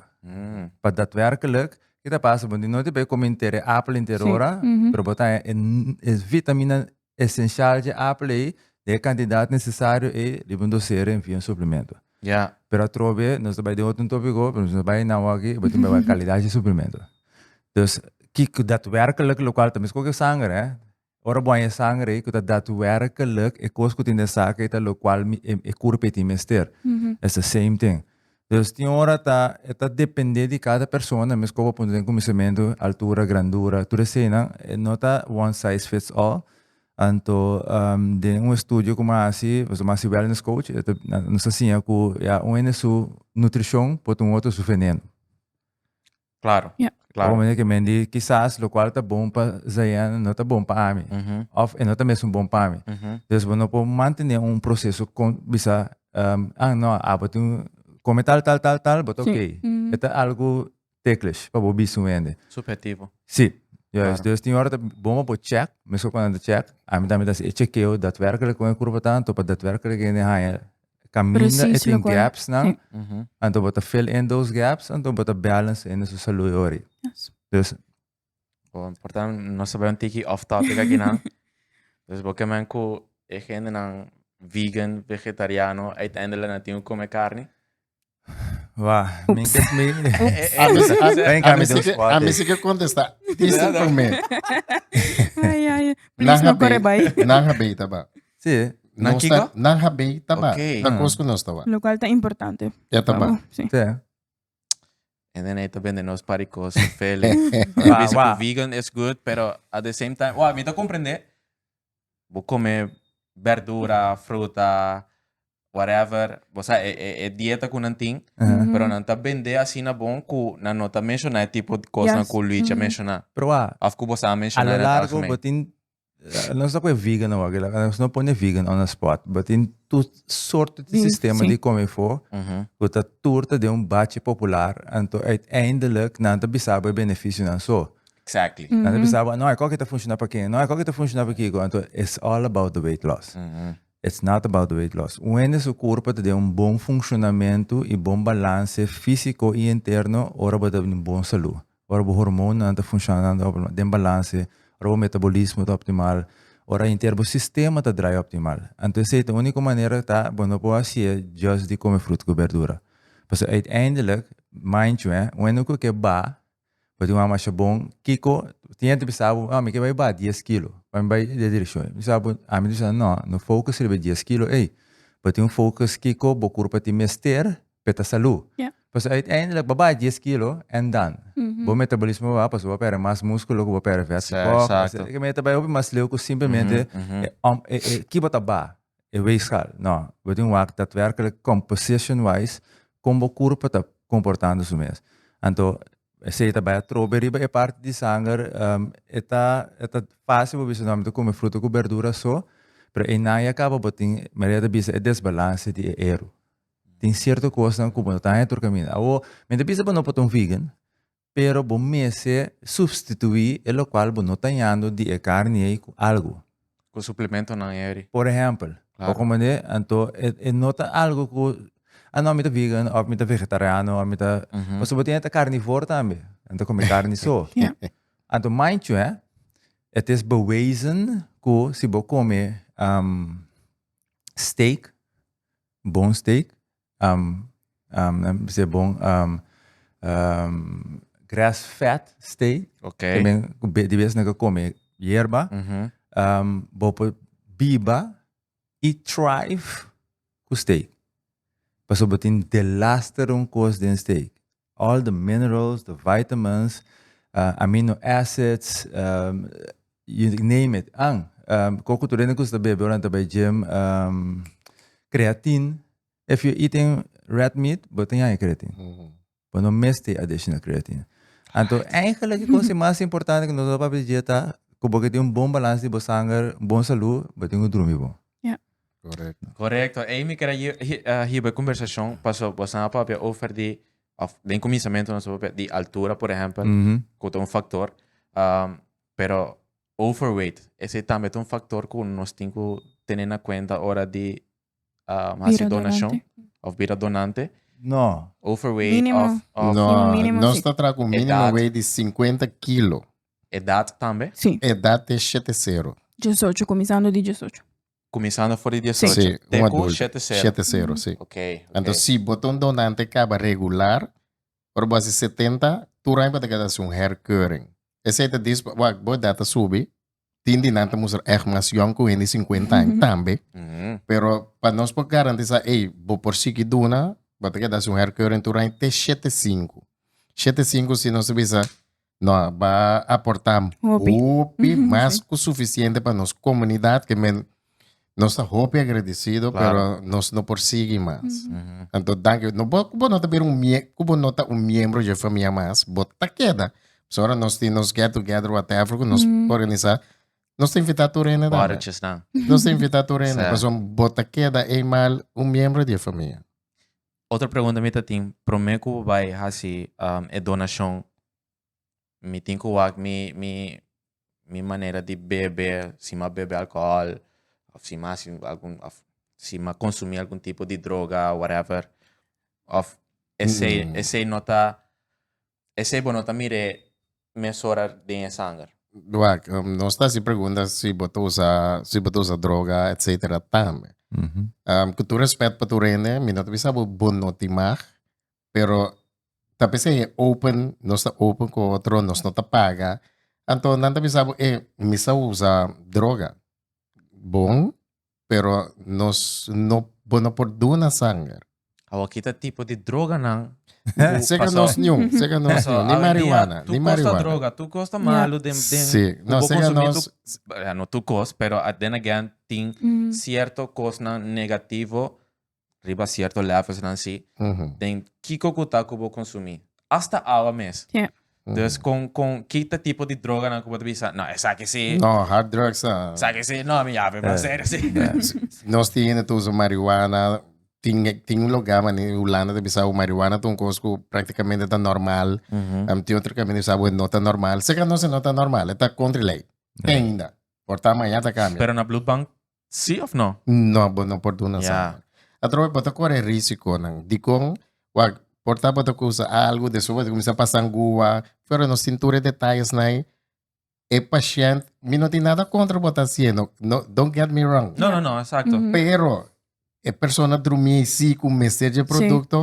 Pa datwerkelijk kita pasa bo tin no te bay come henter e apel henter ora pero bo ta e vitamina esencial dje apple ei, den e cantidad necesario ei, riba un dosero en via un suplemento. Ya. Pero atrobe, nos ta bai den otro topico, pero nos ta bai na awor aki, e tin bai calidad dje suplemento. Dus, ki cu datwerkelijk, locual ta mesco cu e sanger, eh. Ora bo haña e sanger ei, cu ta datwerkelijk e cos cu tin den e sak ei, ta locual mi, e, e curp ei tin mester. It's the same thing. Dus tin ora ta e ta depende di cada persona mes como punto den cuminsamentu, altura, grandura, tur esenan e no ta one size fits all. Anto den un estudio cu mi hasi, nos a hasi wellness coach, e ta nos a siña cu ya un hende su nutricion por ta un otro su veneno. Claro, Ya. claro. Ome ke men di kisas lokual ta bon pa Zayan no ta bon pa ami. Mhm, Of e no ta mesun bon pa mi. mhm. Dus bo no por mantene un proseso con bisa ehm, ah no, abo tin un come tal, tal, tal, tal, bo ta Sí. ok. Mhm. E ta algo teklish pa bo bisa un hende. Subjetivo. Sí, juist. Claro. Dus tin ora ta bon pa bo check, mesun cuando anda check, ami tambe ta haci e chekeo daadwerkelijk con e cuerpo ta anto pa daadwerkelijk hende haya Kaminda e tin gaps nan anto bo ta fill in those gaps anto bo ta balance in su salui ori. Dus. Bo importa nos ta bai un tiki off topic aki nan. dus bo ke men ku e hende nan vegan, vegetariano uiteindelijk nan tin ku kume karni. Wacht, mi ke mi. A mi si- a- Ven acá, a mi mi si si que- que- a mi si que contesta. Dice por mí. Ay, ay. Please, no corre bay. Nan ha bay taba. Sí. No Nan kiko? sa- Nan ha bay taba. Ok. Ta Ah. cos que no estaba. Lo cual está importante. Ya pa taba. u, Sí. Sí. En en eto vende nos pari cos fele. Wa, Dice wa. que vegan is good, pero at the same time, wa, mi te comprende. bo come berdura, fruta, whatever, bo sa e, e, e dieta cu nan tin, pero nan ta bende asina bon cu nan no ta menciona e tipo cosnan Yes. cu Luigi a menciona. Pero a, Of cu bo sa a a menciona lo en het largo algemeen. bo tin, eh, nos ta cu e vegan awor, que la- que nos no pone vegan on the spot, bo tin tur soorten di Di- sistema sí. di come fo, Mhm. cu ta tur ta den un bache popular, anto uiteindelijk nan ta bisa bo e beneficionan. So, Exactly. Nan ta bisa bo, no, e koke ta funciona pa ken, no, e koke ta funciona pa kiko. Anto, it's all about the weight loss. It's not about the weight loss. Un hende su kurpa ta den un bon funcionamentu i bon balanse fisiko i interno ora bo ta den bon salu, ora bo hormonnan ta funcionan den balanse, ora bo metabolismo ta optimal, ora henter bo sistema ta drai optimal. Anto, esei ta uniko manera ta bo no por hasié just di kome frut ku berdura. Pasobra, uiteindelik, mind you, eh, un hende ku ke ba Bo tin un mama asha bon, kiko, tin yente bisa bo, oh, mi ke bai baha dies kilo, pa mi bai e direkshon. Mi bisa bo, ami ta bisa, no, no focus riba e dies kilo ei, bo tin un focus kiko bo kur pa tin mester pa e ta salu. Ja. Pasobra uiteindelijk, bo baha dies kilo, en dan? Bo metabolismo a baha, pasobra bo a pèrdè mas múskulo ku bo a pèrdè vèt. Sa, eksakto. Esaki mi ta bai hopi mas leu ku simplemente e, e, e, ki bo ta baha. E weegschaal, no, we tin wak datwerkelijk composition wise kon bo kurpa ta komportando su mes. Anto esei ta bai atrobe riba e parti di sanger, e ta e ta fasil bo bisa no mi ta kume fruta ku berdura so, pero einan ya kaba bo tin Maria ta bisa e desbalanse di e eru. Tin sierto kosnan ku bo no ta haña tur kaminda. Awo mi ta bisa bo no por ta un vegan, pero bo mester supstituí e lokual bo no ta ñando di e karni ei ku algu. Ku suplementonan eri. Por ehèmpel, bo komend'é, anto e no ta algu ku, a no, mi ta vegan òf mi ta vegetariano òf mi ta, pasobra bo tin e ta karnivor tambe, e ta kome karni so. Anto manchu hè, et is bewezen ku si bo kome steak, bone steak, Um, um, nan bisa e bon, um, um, grass fed stay. Ok. Ke men, ku be- di bes nan ka kome yerba. Um, bo por biba i thrive ku steak. Pasobra tin de las te run kos den steak. All the minerals, the vitamins, amino acids, you name it. An, koko tur hende ku ta bebe ora nan ta bai gym, creatine, if you eating red meat bo tin haña creatine. Bo no mes tin additional creatine. Anto eigenlijk e kos mas importante ku nos a papia di dia ta ku bo ke tin un bon balans di bo sanger, bon salud, bo tin ku drumi bon. Ja. Korekto. Korekto. Ei mi kere hi- hi- ah, hiba e konversashon, paso boso nan a papia over di, of den kuminsamentu nos a papia di altura, por ehempel, Mhm. ku ta un faktor. Am, pero overweight, esei tambe ta un faktor ku nos tin ku tene na kuenta ora di am, hasi Bira donashon donante. of bira donante. No. Overweight Mínimo. of, of Mínimo, mínimo, nos sí. ta traha ku un mínimo Edat. wei di 50 kilo. Edat tambe? Sí. Edat te shete sero. Diesocho, kuminsando di diesocho. Kuminsando for di diesocho. Sí, un Te ku adulto. shete sero. Shete sero, sí. Ok, ok. Anto si bo ta un donante kaba regular, ora bo hasi setenta, tur aña bo ta keda hasi un herkeuring. Esei ta dis bo, wak, bo edat ta subi, tin di nan ta mustra èg mas yòn ku hende di sinkuenta aña tambe, Mhm. pero pa nos por garantisá, ey, bo por sigui duna, bo ta keda hasi un herkeuring tur aña te shete sinku. Shete sinku si nos ta bisa, no a ba aportá hopi, hopi mas ku sufisiente pa nos komunidat ke men nos ta hopi agradesido claro. pero nos no por sigi mas. Mm -hmm. Anto danki no bo kubo no ta bir un mie kubo no ta un miembro je famia mas bo ta keda. So ora nos tin nos get together whatever ku nos mm -hmm. organisa nos invita tu rene da. Nos invita tu rene, paso bo ta keda eimal un miembro de famia. Otro pregunta mi ta tin, prome cu bo bay haci e donacion, mi tin cu wak mi, mi, mi manera di bebe, si mi a bebe alcohol, of si mi a haci algun, of si mi a consumi algun tipo di droga, whatever, of esey, esey no ta, Esei bo no ta mir'é mesora den e sanger? Wak, nos ta hasi pregunta si bo ta usa, si bo ta usa droga etcetera tambe. Ku tur respet pa tur hende, mi no ta bisa bo, bo no tin mag, pero ta p'esei e open, nos ta open ku otro, nos no ta paga, anto nan ta bisa bo, e mi sa usa droga, bon Pero nos no bo no por duna sanger. Awa kita tipo di droganan ku Sega pasa. nos niun, sega nos Paso, niun, ni hoy en día, marihuana, tu ni kosta marihuana. droga, tu kosta malu den, den Sí, ku no, bo sega konsumí nos- tu- eh, no tu kos, pero at then again tin Mm. cierto kosnan negativo riba cierto levels nan si den kico cu ta cu bo consumi hasta awa mes dus con con ki ta tipo di droganan cu bo ta bisa no esaki si No hard drugs no esaki si no mi yabe mas serio si nos tin hende ta usa marihuana tin tin un loga man den Hulanda ta bisa awe marihuana ta un cos cu practicamente ta normal am tin otro caminda ta bisa awe no ta normal se ka nos e no ta normal e ta contra e ley ainda por ta maya ta cambia. Pero na bloedbank Sí of no? No, bo no por duna sa. Yeah. Atrobe bo ta kore e risikonan. Dikon? Wak, por ta bo ta kusa algu, despues bo ta kuminsá pasa ngua, pero nos tin tur e detayes na ei. E pashènt, mi no tin nada kontra bo ta hasiendo, no, don't get me wrong, No, no, no, esakto. pero e persona drumí sí ku mester dje produkto,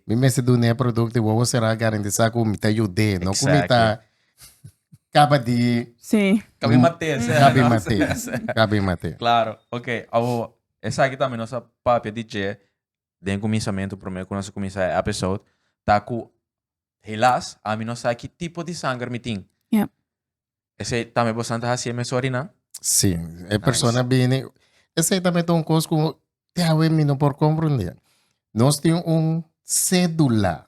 mi mester dun'é e produkto i wowo será garantisá ku mi ta yud'é, no ku mi ta kaba di Kabi mat'é sèn. Kabi mat'é, kabi mat'é. Klaro, oke, awor, esaki tambe nos a papia di dje den kuminsamentu, promé ku nos a kuminsá e episode, ta ku Helas, ami no sa ki tipo di sanger mi tin. Yep. Esei tambe bosan ta hasi e mes orinan? Si, e persona bini. Esei tambe ta un kos ku te awe mi no por komprendé. Nos tin un sedula,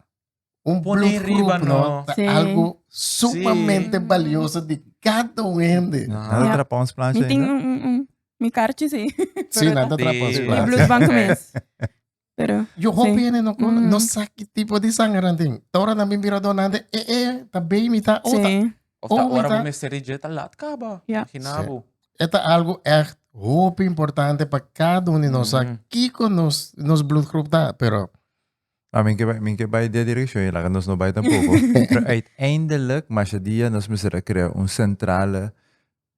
un Pone bloedgroep, riba, no? no? Ta Si. algo sumamente Si. balioso di kada un hende. Nan ta Yep. trapa ons plancha Mi tin ainda? un, un, un. Mi karchi si. Si, nan ta Di- trapa ons Di plancha. bloedbank mes. Pero, Yo hopi sí. hende no, con- Mm. no sa ki tipo di sanger nan tin. Tora nan bin bira donante, e e, ta baby, ta ota. Sí. Of ta Oh, ora mita. bo mester reject a lat kaba. Ja. Imaginabo. Eta e algo echt hopi importante pa cada un di nos sa Mhm. kiko nos, nos bloedgroep ta, pero Ah, men ke bai, men ke bai de direction, je laga nos no bai tampoco. Pero uiteindelijk, Mashadia, nos moest er a crea un centrale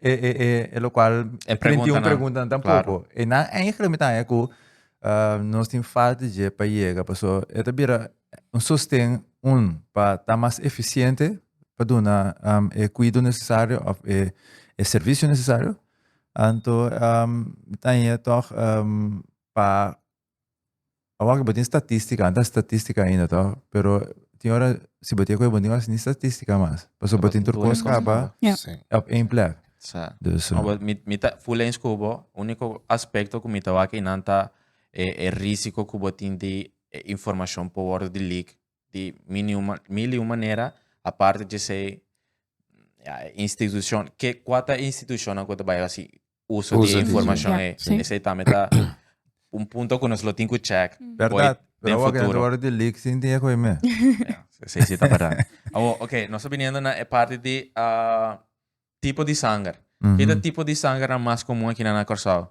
E preguntanan. E preguntanan tampoco. E nan eigenlijk mi ta haña cu nos tin falta di dje pa yega pasobra e ta bira un sosten un pa ta mas eficiente pa duna e cuido necesario of e servicio necesario. Anto mi ta haña toch pa Awor ke bo tin statistika, anta statistika ainda to, pero tin ora si bo tin e koe bo tin ora sin statistika mas. Paso bo tin tur kos kaba Ja. Sí. op ein plek. Sa. Dus eh, Obo, mi, mi ta full eens ku bo. Úniko aspekto ku mi ta wak einan ta e, e rísiko ku bo tin di e informashon por wòrdu di leak di mil i un manera aparte d'esei ya e institushonnan ke kua ta e institushonnan ku ta bai hasi uso di e informashon ei esei tambe ta un punto ku nos lo tin ku chèk fo'i den futuro esei si ta bèrdad awor okay nos ta biniendo na e parti di. Tipo di sanger. Ki ta tipo di sangernan mas komun akinan na Kòrsou?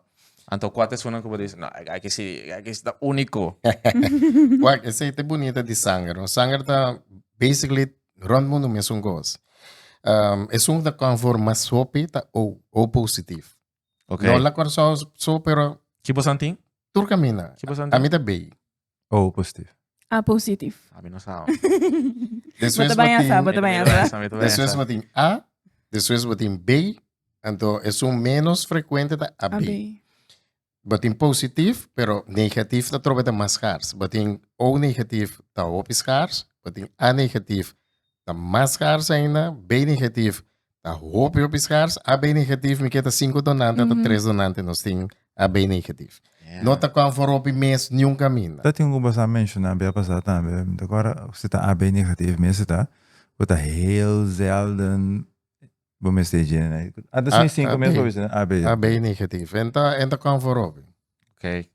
Anto kua ta esunnan ku bo dici, no, e aki si, e aki si ta úniko? Wak, esei ta e bunita di sanger, no? Sanger ta basically rònt mundu mesun kos. Esun ku ta konforma sopi ta O, O positif. Ok. No la Curaçao so, pero Ki bo santin? tur camina. Ki bo santin? A mi ta bay. Oh, positivo. A positivo. A mi no sa. Después Bota baña sa, botin- bota baña sa. Esa, mi te voy a Después esa. botin A, después botin B, anto es un menos frecuente ta AB. Abi. Botin positief, pero negatief ta trobe ta mas schaars. Botin O negatief ta hopi schaars, botin A negatief ta mas schaars ainda, B negatief ta hopi hopi skars, AB negatif mi ke ta sinku donante mm -hmm. ta tres donante nos tin AB negatif. Yeah. No ta kon for hopi mes ni un kaminda. Ta tin ku basa menshona bia basa tambe, mi ta kora si ta AB negatif mi si ta, ku ta heel zelden bo mes te jene. Ata sin sinku mes bo bisi AB. AB negatif. Enta enta kon for hopi. Okay.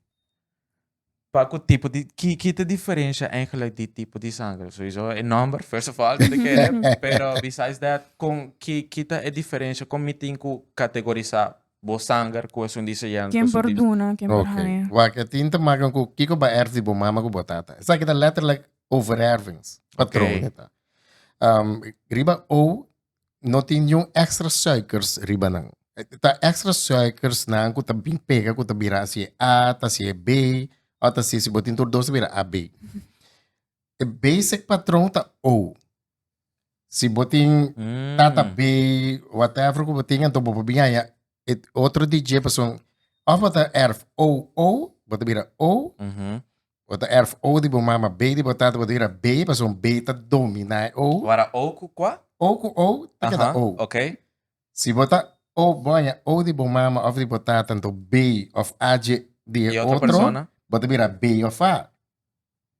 Pa cu tipo di, ki, ki ta diferencia eigenlijk di tipo di sanger? Sowiso e nomber, first of all, te kere, pero besides that, con, ki, ki ta e diferencia, con mi tin cu categorisa bo sanger cu esun di seyente, Ken esun por di... duna, ken por Oké, haña. wak, e tin ta makan cu kiko bo a erf di bo mama cu bo tata. Esaki ta letterlijk overervings, patroon, e ta. Ehm, riba O no tin niun extra suikers riba nan. Ta extra suikers nan ku ta bin pega ku ta bira si e A ta si e B o ta si si bo tin tur dos ta bira AB. E basic patron ta O. Si bo tin Mm. tata B whatever ku bo tin anto bo por bin haya e otro DJ pason of bo ta erf O O bo ta bira O Mhm. Bo ta erf O di bo mama, B di bo tata, bo ta bira B, pasobra B ta dominá e O. Wara O ku kua? O ku O ta keda O. Aha, ok. Si bo ta O, bo haña O di bo mama òf di bo tata, anto B òf A dje di e Di otro otro, persona. bo ta bira B òf A.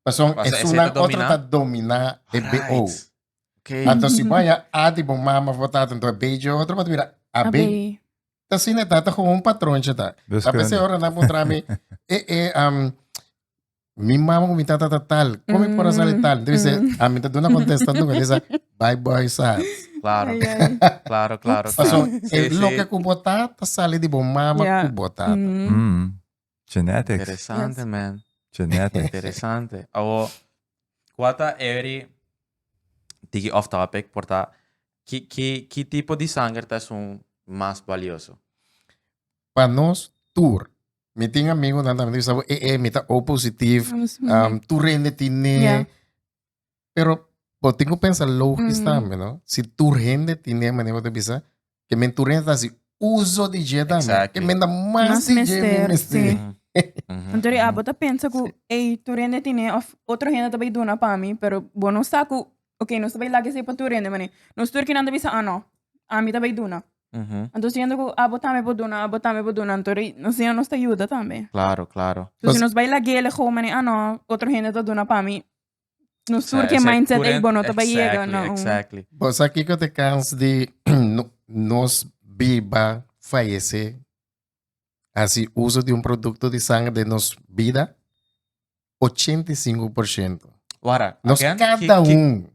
Pasobra Pasobra esei esuna ta otro dominá. ta dominá e BO. Right. Okay. Ato si baya a di bo mama bo tata ento bejo otro pa tuira a be. Ta si ne tata como un patrón cheta. Ta pese ora na mutra mi e e um mi mama mi tata ta tal. Como mm. por sale tal. Debe ser a mi ta duna contesta nunca desa bye boy sas. Claro. Ay, ay. Claro, claro. Paso, sí, el sí. lo que kubota ta sale di bo mama yeah. kubota. Mm. Mm. Genetics. Interesante yes. man. Genetics. Interesante. Awo, kua ta every tiki off topic por ta ki ki ki tipo di sanger ta esun mas valioso? Pa nos tur. Mi tin amigunan tambe mi sa bo e e mi ta O positif, um tur rende tine yeah. Pero bo tin ku pensa logis tambe, no? Si tur hende tine mane bo ta bisa, ke men tur hende ta hasi uso di dje tambe. Exactly. Ke men da mas Mas di dje mester, men mester. sí. Mhm, Anto di mhm. abo ta pensa ku, ey, tur hende tine, of otro hende ta bay duna pa mi, pero bo no sa ku, ok, nos ta bay laga esei pa tur hende, mane, nos tur kinan ta bisa, ah, no, ami ta bay duna. Mhm. Anto siendo ku abo tambe por duna, abo tambe por duna, anto di, nos Señor nos ta yuda tambe. Claro, claro. So, si nos bay lagele gou, mane, ah, no, otro hende ta duna pa mi, No sur ke mindset ei bo no ta bai yega na un. Exactly. Bo sa kiko te kans di nos biba fayese hasi uso di un produkto di sanger den nos bida? Ochenta i sinku por shento. Wara, Nos again, ki- kada ki- un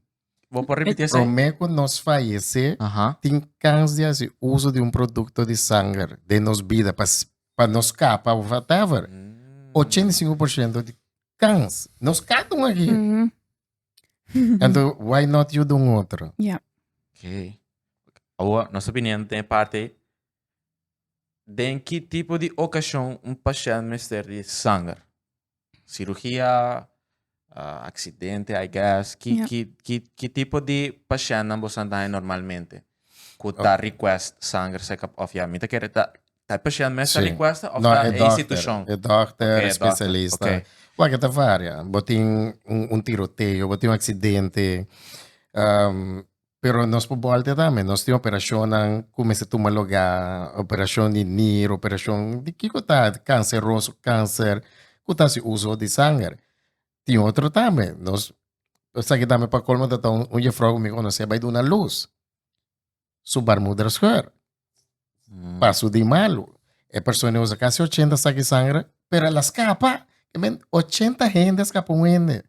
Bo por repetir esa? promé ku nos fayese Aha. tin kans di hasi uso di un produkto di sanger den nos bida pa, s- pa nos kapa of whatever. Mm. 85% di kans. Nos ka dun aki. Anto, why not yu dun otro? Ja. Okay. Awa, nos ta bini ante e parti den ki tipo di okashon un pashènt mester di sanger. Sirugia, aksidente, I guess. Ki, Ja. ki, ki, ki tipo di pashèntnan boso a daña normalmente ku ta request sanger sekap òf ya mi ta kere ta Ta e pashent mes ta rikuesta of ta e institushon? No, e dòkter, e spesialista. Wak, e ta varia. Bo tin un tiroteo, bo tin un aksidente, pero nos por bòlta tambe. Nos tin operashonnan ku mester tuma lugá, operashon di nir, operashon di kiko ta kanseroso, kanser ku ta hasi uso di sanger. Tin otro tambe. Nos esaki tambe pa kolmo tabata un yefrou ku mi konosé bai duna lus. su barmuder scheur. Mm. Paso di malo. E persona usa casi 80 saki sangre, pero la escapa. I mean, 80 gente escapa un hende.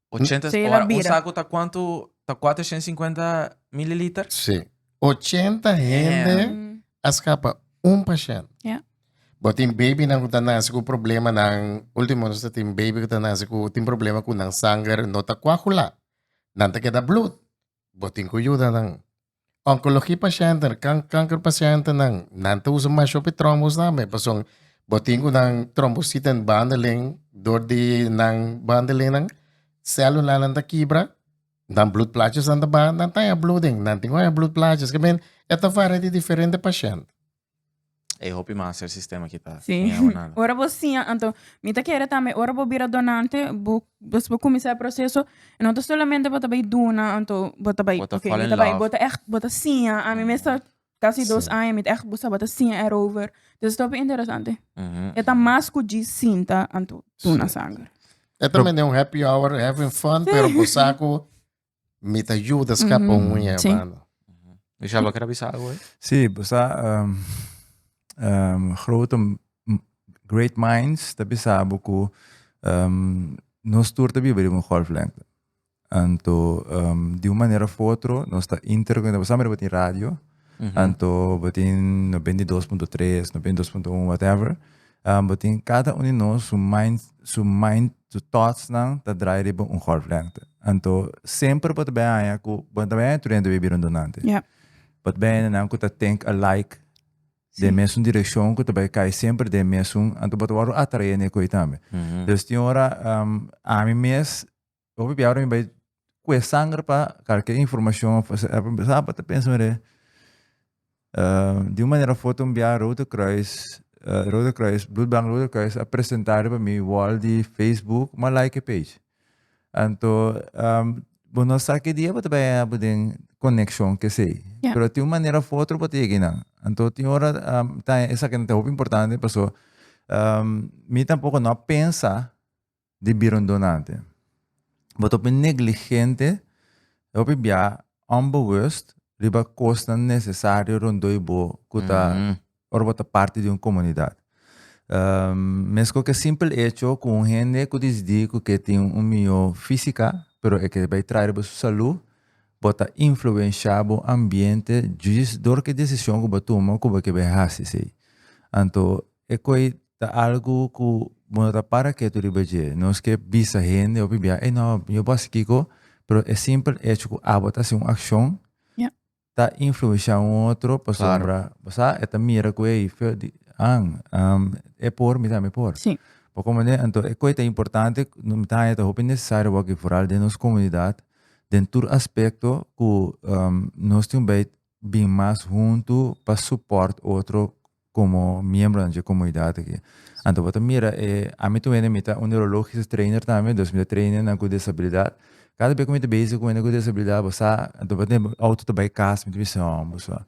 80 Sí, la ora, un bira. saco ta cuánto? Ta 450 mililiter? Sí. 80 hende Mm. escapa un paciente. Ja. But tin baby nan kuta nasi ku problema nan ultimo nos tin baby kuta nasi ku tin problema ku nan sanger no ta coagula. Nan te keda bloed. Bo tin cu yuda nan. Oncologie pacienten, can kanker pacienten nan, nan ta usa masho pe trombos tambe, pasobra bo tin cu nan trombociten bandelen door di nan bandelenan celulanan ta kibra, nan bloedplaatjes nan ta baha, nan ta haña bloeding, nan tin cu haña bloedplaatjes, esaki men e ta varia di diferente pacienten. E hopi mas el sistema ki ta Sí. miau nan. Ora bo siña, anto mi ta kere tambe ora bo bira donante, bo des bo kuminsá e proseso, no ta solamente bo ta bai duna, anto bo ta bai, Bo ta oké, fall mi in ta bai, love. bo ta ègt, bo ta siña, ami mester kasi dos Sí. aña mi ta ègt bo sa bo ta siña erover, dus es hopi interesante. Mhm, E ta mhm. mas ku dji sinta, anto duna Sí. sanger. E tambe den un happy hour, having fun, pero bo sa ku Mi ta yuda skapa un muñe, sí. mano. Michel, lo kier a bisa algo hoy? Sí, bo sa um, um, grote, m- great minds ta bisa bo ku um, nos tur ta biba riba un golflengte. Anto um, di un manera of otro nos ta interconecta. Bo sabi riba tin radio? Anto bo tin no bini di dos punto tres, no bini di dos punto un, whatever. Um, bo tin cada un di nos, su mind, su mind, su thoughts nan ta draai riba un golflengte. Anto semper bo ta bay haña cu, bo no ta bay haña tur hende wey bira un donante. Ja. Bo ta bay haña hende cu ta think alike, den mesun direccion, cu ta bay cay semper den mesun, anto bo ta worde atrae na e coe tambe. Dus tin ora, um, ami mes, Hopi bia ora mi bai kue sanger pa kal ke informashon of sa pa ta pensa mire di un manera of otro bia Rode Kruis Rode Kruis Bloed Bank Rode Kruis a presenta riba mi wall di Facebook mi a like e page anto bo no sa ke dia bo ta bai habo den konekshon kesey pero tin un manera of otro bo ta yega eynan anto tin ora esaki ta hopi importante pasobra mi tampoco no a pensa di bira un donante. Bo ta hopi negligente, e hopi bia onbewust riba kosnan nesesario rondoi bo ku ta ora bo ta parti di un komunidat. Meskos ku e simpel hecho ku un hende ku disdi ku ke tin un mihó físika pero e ke bai traha riba su salú, bo ta influenshá bo ambiente djis dor ku e desishon ku bo tuma ku bo ke bai hasi esei. Anto e koi Ta algu ku bo no ta para ketu riba dje. Nos ke bisa hende hopi bia, ey no, yo bo a hasi kiko, pero e simpel echo ku abo ta hasi un akshon, Ya. ta influenshá un otro pasobra bo sa e ta mira ku ey feo di an, e por, mi tambe por. Sí. Bo komprende? Anto e koe ta importante, mi ta haña ta hopi nesesario wak i foral den nos komunidat, den tur aspekto ku nos tin un bei bin mas huntu pa support otro como miembronan dje comunidad aki. Anto bo ta mira e, ami tu hende mi ta un neurologisch trainer tambe, dos mi ta train hende nan cu desabilidad. Cada bey cu mi ta bezig cu hende cu desabilidad bo sa, anto bo tin auto ta bay cas mi ta bisa ho bo sa.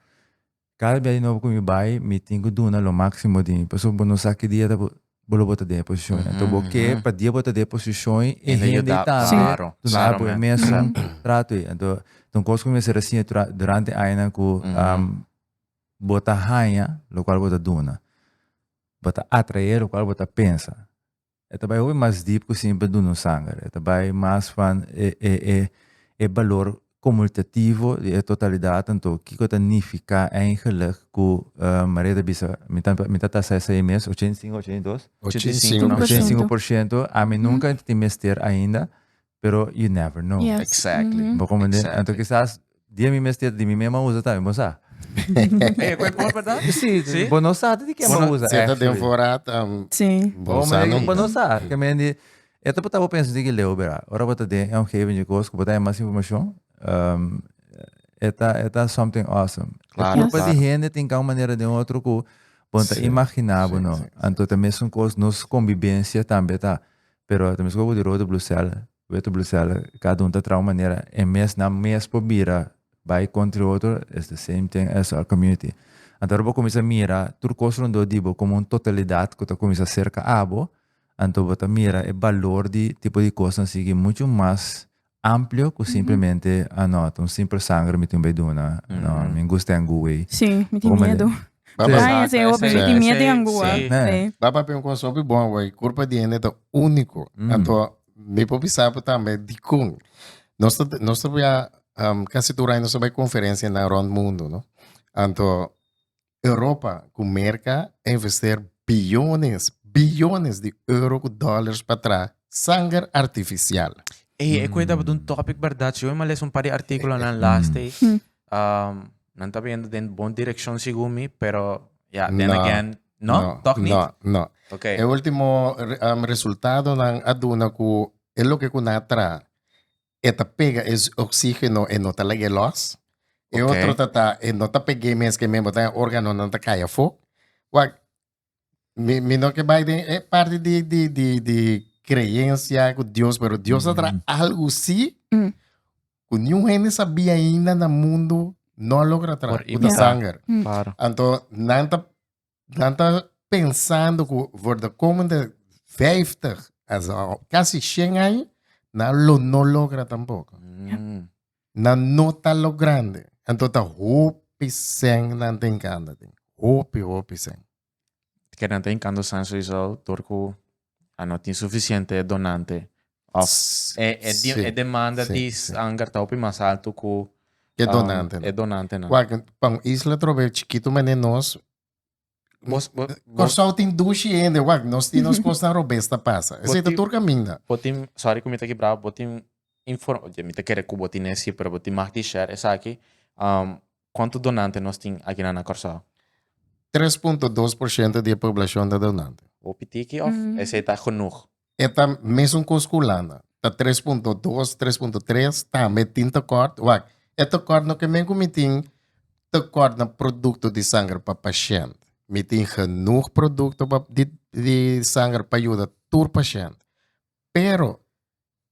Cada biaha di nobo cu mi bay mi tin cu duna lo maximo di mi pasobra bo no sa ki dia ta por bo lo bo ta den e posishon. Anto bo ke pa dia bo ta den e posishon ei, e hende ei tambe duna bo e mesun trato ei. Anto ta un kos ku mi mester a siña durante e añanan ku bo ta haña lokual bo ta duna. Bo ta atrae lokual bo ta pensa. E ta bai hopi mas deep ku simplemente duna un sanger. E ta bai mas van e balor comultativo di e totalidad anto kico ta nifica eigenlijk cu Maria ta bisa mi ta tasa esey mes ochenta y cinco ochenta y dos? Ochenta y cinco por ciento. Ochenta y cinco por ciento ami nunca a tin mester ainda pero you never know. Exactly. Bo comprende? Anto kisas dia mi mester di mi mesmo a usa tambe bo sa. Ey cu e por verdad? Si si bo no sa di ken bo usa actually. Si ta den fora ta bo sa nunca. Bo no sa ke men di E ta portá bo pensa di ki leu, bera. Ora bo ta den e omgeving djekos ku bo ta haña mas informashon, e ta e ta something awesome. E kulpa di hende tin kau manera den otro ku bo no ta imaginá bo no. Anto ta mesun kos nos kombibensia tambe ta. Pero ta mesun ku di rode blusel, wete blusel, kada un ta traha un manera. E mes nan mes por bira bai kontri otro is the same thing as our community. Anto ora bo kuminsá mira tur kos rondó di bo komo un totalidat ku ta kuminsá serka abo, Anto bo ta mira e balor di e tipo di kos na sigui muchu mas amplio ku simplemente, ah no, ta un simpel sanger mi tin bai duna, no, mi ngu sten ngu wei. Sí, mi tin miedu. Daña ese hopi, mi tin miedu di angu a. Ba papia un kos hopi bon awor, e kurpa di hende ta úniko. Anto mi por bisa bo tambe dikon nos ta nos ta bia kasi tur aña nos ta bai konferensia nan rònt mundu, no. Anto Europa ku Merka a invester billones, billones di euro ku dollars pa traha sanger artificial. Ey, e kue tabata un topic berdad. Si oi m'a lesa un par di articulonan last day, um, nan taba yendo den bon direccion segun mi, pero ja, then No. again, no, toch niet? No, no. Ok. E ultimo re- um, resultadonan a duna ku e loke ku nan a traha e ta pega e oxígeno e no ta lag'é lòs. E Ok. otro ta ta e no ta peg'é mes ke men botan e órganonan ta kai afó. Wak mi mi no ke bai den e parti di di di di kreensia ku Dios pero Dios a traha algu si Mm. ku niun hende sabí ainda na mundu no a logra traha Por ku ta imita. sanger. Claro. Anto nan ta nan ta pensando ku for de komende 50 as kasi 100 aña nan lo no logra tampoko. Mm. Nan no ta lo grande. Anto ta hopi sen nan ta enkando tin. Hopi, hopi sen. Ken nan ta enkando san sowieso dor ku a no tin suficiente donante Of e, e, di, Sí, e demanda sí, di sí. Sanger ta hopi mas alto ku E ah, donante. e donante nan. Wak, pa un isla trove chikitu mane nos. Bos, bo, bo, Corsou tin dushi hende, wak, nos tin nos kosnan robesta pasa. Bo Ese ta tin- tur kaminda. bo tin, sorry ku mi ta kibra, bo tin inform, oye, mi ta kere ku bo tin e sifra, bo tin mag di share esaki, um, kuantu donante nos tin akinan na Kòrsou? 3.2% di e poblacion ta donante. Hopi tiki of Mm. ese ta genoeg? E ta mesun kos ku hulanda. Ta tres punto dos, tres punto tres, tambe tin tekort. Wak, e tekort no ke men ku mi tin tekort na produkto di sanger pa pashent. Mi tin genoeg produkto pa di di sanger pa yuda tur pashent. Pero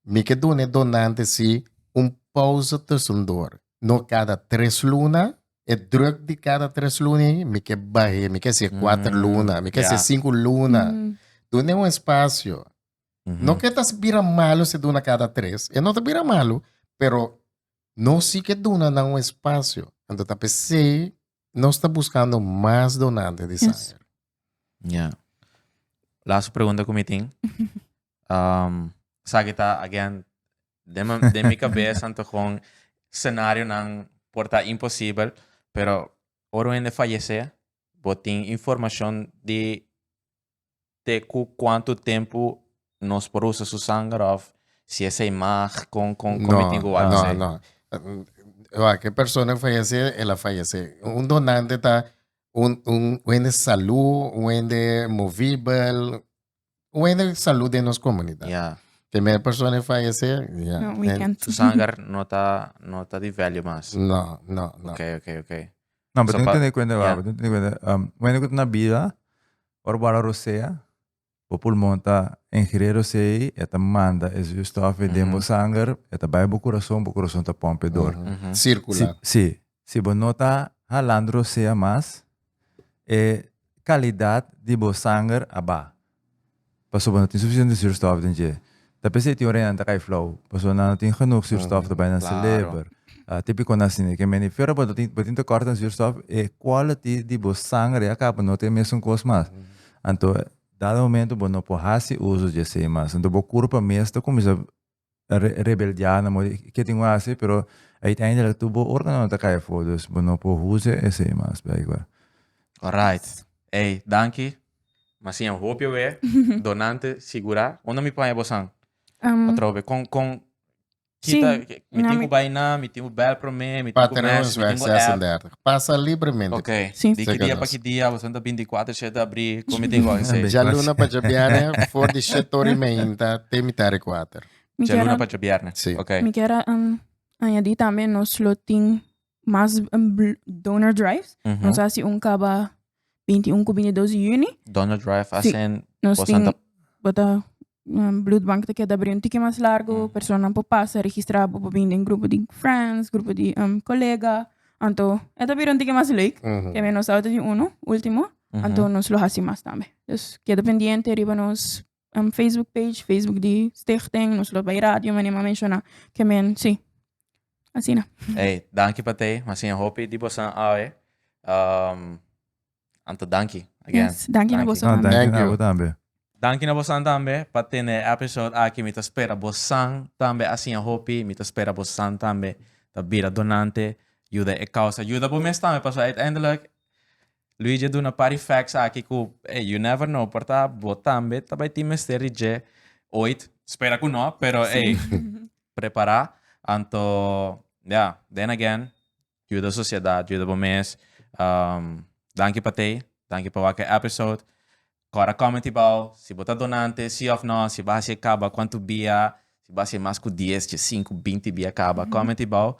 mi ke duna e donante si un pouze tusendor. No kada tres luna, E druk di kada tres luna ei, mi ke bah'é, mi ke hasié kuater Mm, luna, mi ke hasié ya. sinku luna. Mm. Dun'é un espasio. Mhm. No ke ta bira malu si duna kada tres, e no ta bira malu, pero no si ke duna nan un espasio. Anto ta p'esei nos ta buskando mas donante di Yes. sanger. Ya. Laatste pregunta ku mi tin. Um, Saki ta, again, den, ma- den mi cabeza anto gewoon scenario nan por ta imposible, pero oro hende fallece, bo tin informacion di te cu cuanto tempo nos por usa su sanger of si esey mag, con, con, con mi tin cu wak no, esey? no. Eh, Wa, que persona fallece, el a fallece. Un donante ta un, un, un hende salud, un hende movible, Weder salud den nos comunidad. Yeah. Primer persona en fallecer. Yeah. No, we can't. Su sanger no ta, no ta di value mas. No, no, no. Ok, ok, ok. No, pero so, pa, tener cuenta, yeah. pero tener cuenta, um, bueno, que na vida, orbara rosea, o pulmón ta ingreer rosei, eta manda e zuurstof mm -hmm. den bo sanger, eta bij bo corazón, bo corazón ta pompe door. Mm -hmm. Circular. Si, si. Si bo no ta halando rosea mas, e kalidad di bo sanger a baha, pasobra bo no tin sufisiente surstof den dje. Ta p'esei tin orina nan ta kai flau, pasobra nan no tin genoeg surstof ta bai nan seleber, tipikonan asina e ke mende. Fier bo tin bo tin tekort den surstof, e quality di bo sanger ya kaba no ta e mesun kos mas. Anto dado momento bo no por hasi uso dje esei mas. Anto bo kurpa mes ta kuminsá rebeldia na mor di ke tin bo hasi pero uiteindelijk tur bo organo na ta kai afo dus bo no por huze esei mas blijkbaar. Alright ey danki masiña un hopia we donante sigura unda mi por haña bo san atrobe con con kita mi tin ku bai na mi tin ku bel prome mi tin ku mes mi tin ku app. Pasa libremente. Ok, Sí. di ki dia pa ki dia awor ta binti kuater shete abri komi tin gò ensay. Dja luna pa dja bierne for di shet ora i meinta te mitar e kuater. Mi Dja luna kier, pa dja bierne. Sí. Ok. mi kier um, añadi tambe nos lo tin mas um, bl- donor drives. Nos a hasi un kaba 21 ku bini 2 juni. Donald Drive Sí, hacen Nos por tin Santa bota um, bloedbank ta keda abri un tiki mas largo. Personanan por pasa, registra bo por bin den grupo di friends, grupo di um, colega. Anto e ta bira un tiki mas leuk. Te men nos tabata di uno, ultimo. Anto nos lo haci mas tambe. Dus keda pendiente riba nos Facebook page facebook di stichting nos lo bay radio manera a menciona ke men si asina. Ey danki pa te mas sin hopi di bosan awe anto danki again. Danki na boso tambe. Danki na bo tambe. Danki na bosan tambe pa tene e episode aki mi ta spera bosan tambe a siña hopi mi ta spera bosan tambe ta bira donante yuda e causa yuda bo mes tambe paso uiteindelijk Luigi a duna par di facts aki cu ey, you never know, por ta bo tambe ta bay tin mester di dje ooit, spera cu no, pero ey, prepara, anto ya, then again, juda sociedad, juda bo mes, danki pa Tei, danki pa wak e episode, Kor a kòmen ti bou, si bo ta donante, sí òf nò, si bo a hasi e kaba, kuantu bia, si bo a hasi e mas ku dies, tjie, sinku, binti bia kaba, kòmen ti bou,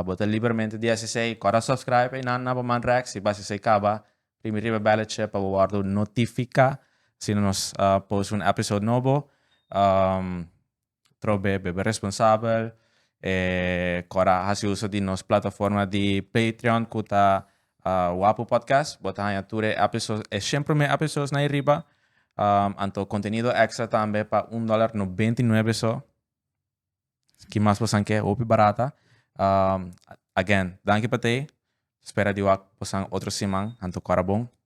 bo ta libermente di hasi esei, kòr a sòpskraibe einan na bo man rèks, si bo a hasi esei kaba, primi riba e bèletje pa bo wòrdu notifiká asina nos post un èpisod nobo. probe bebe responsabel e cora haci uso di nos plataforma di Patreon cu ta Wapu Podcast. Bo ta haya tur e episodes, e shen prome episodes na airiba. Um, anto contenido extra tambe pa un dollar noventa y nueve so. Ki mas bosan ke, hopi barata. Um, again, danki pa tei. Spera di wak bosan otro siman, anto cora bon.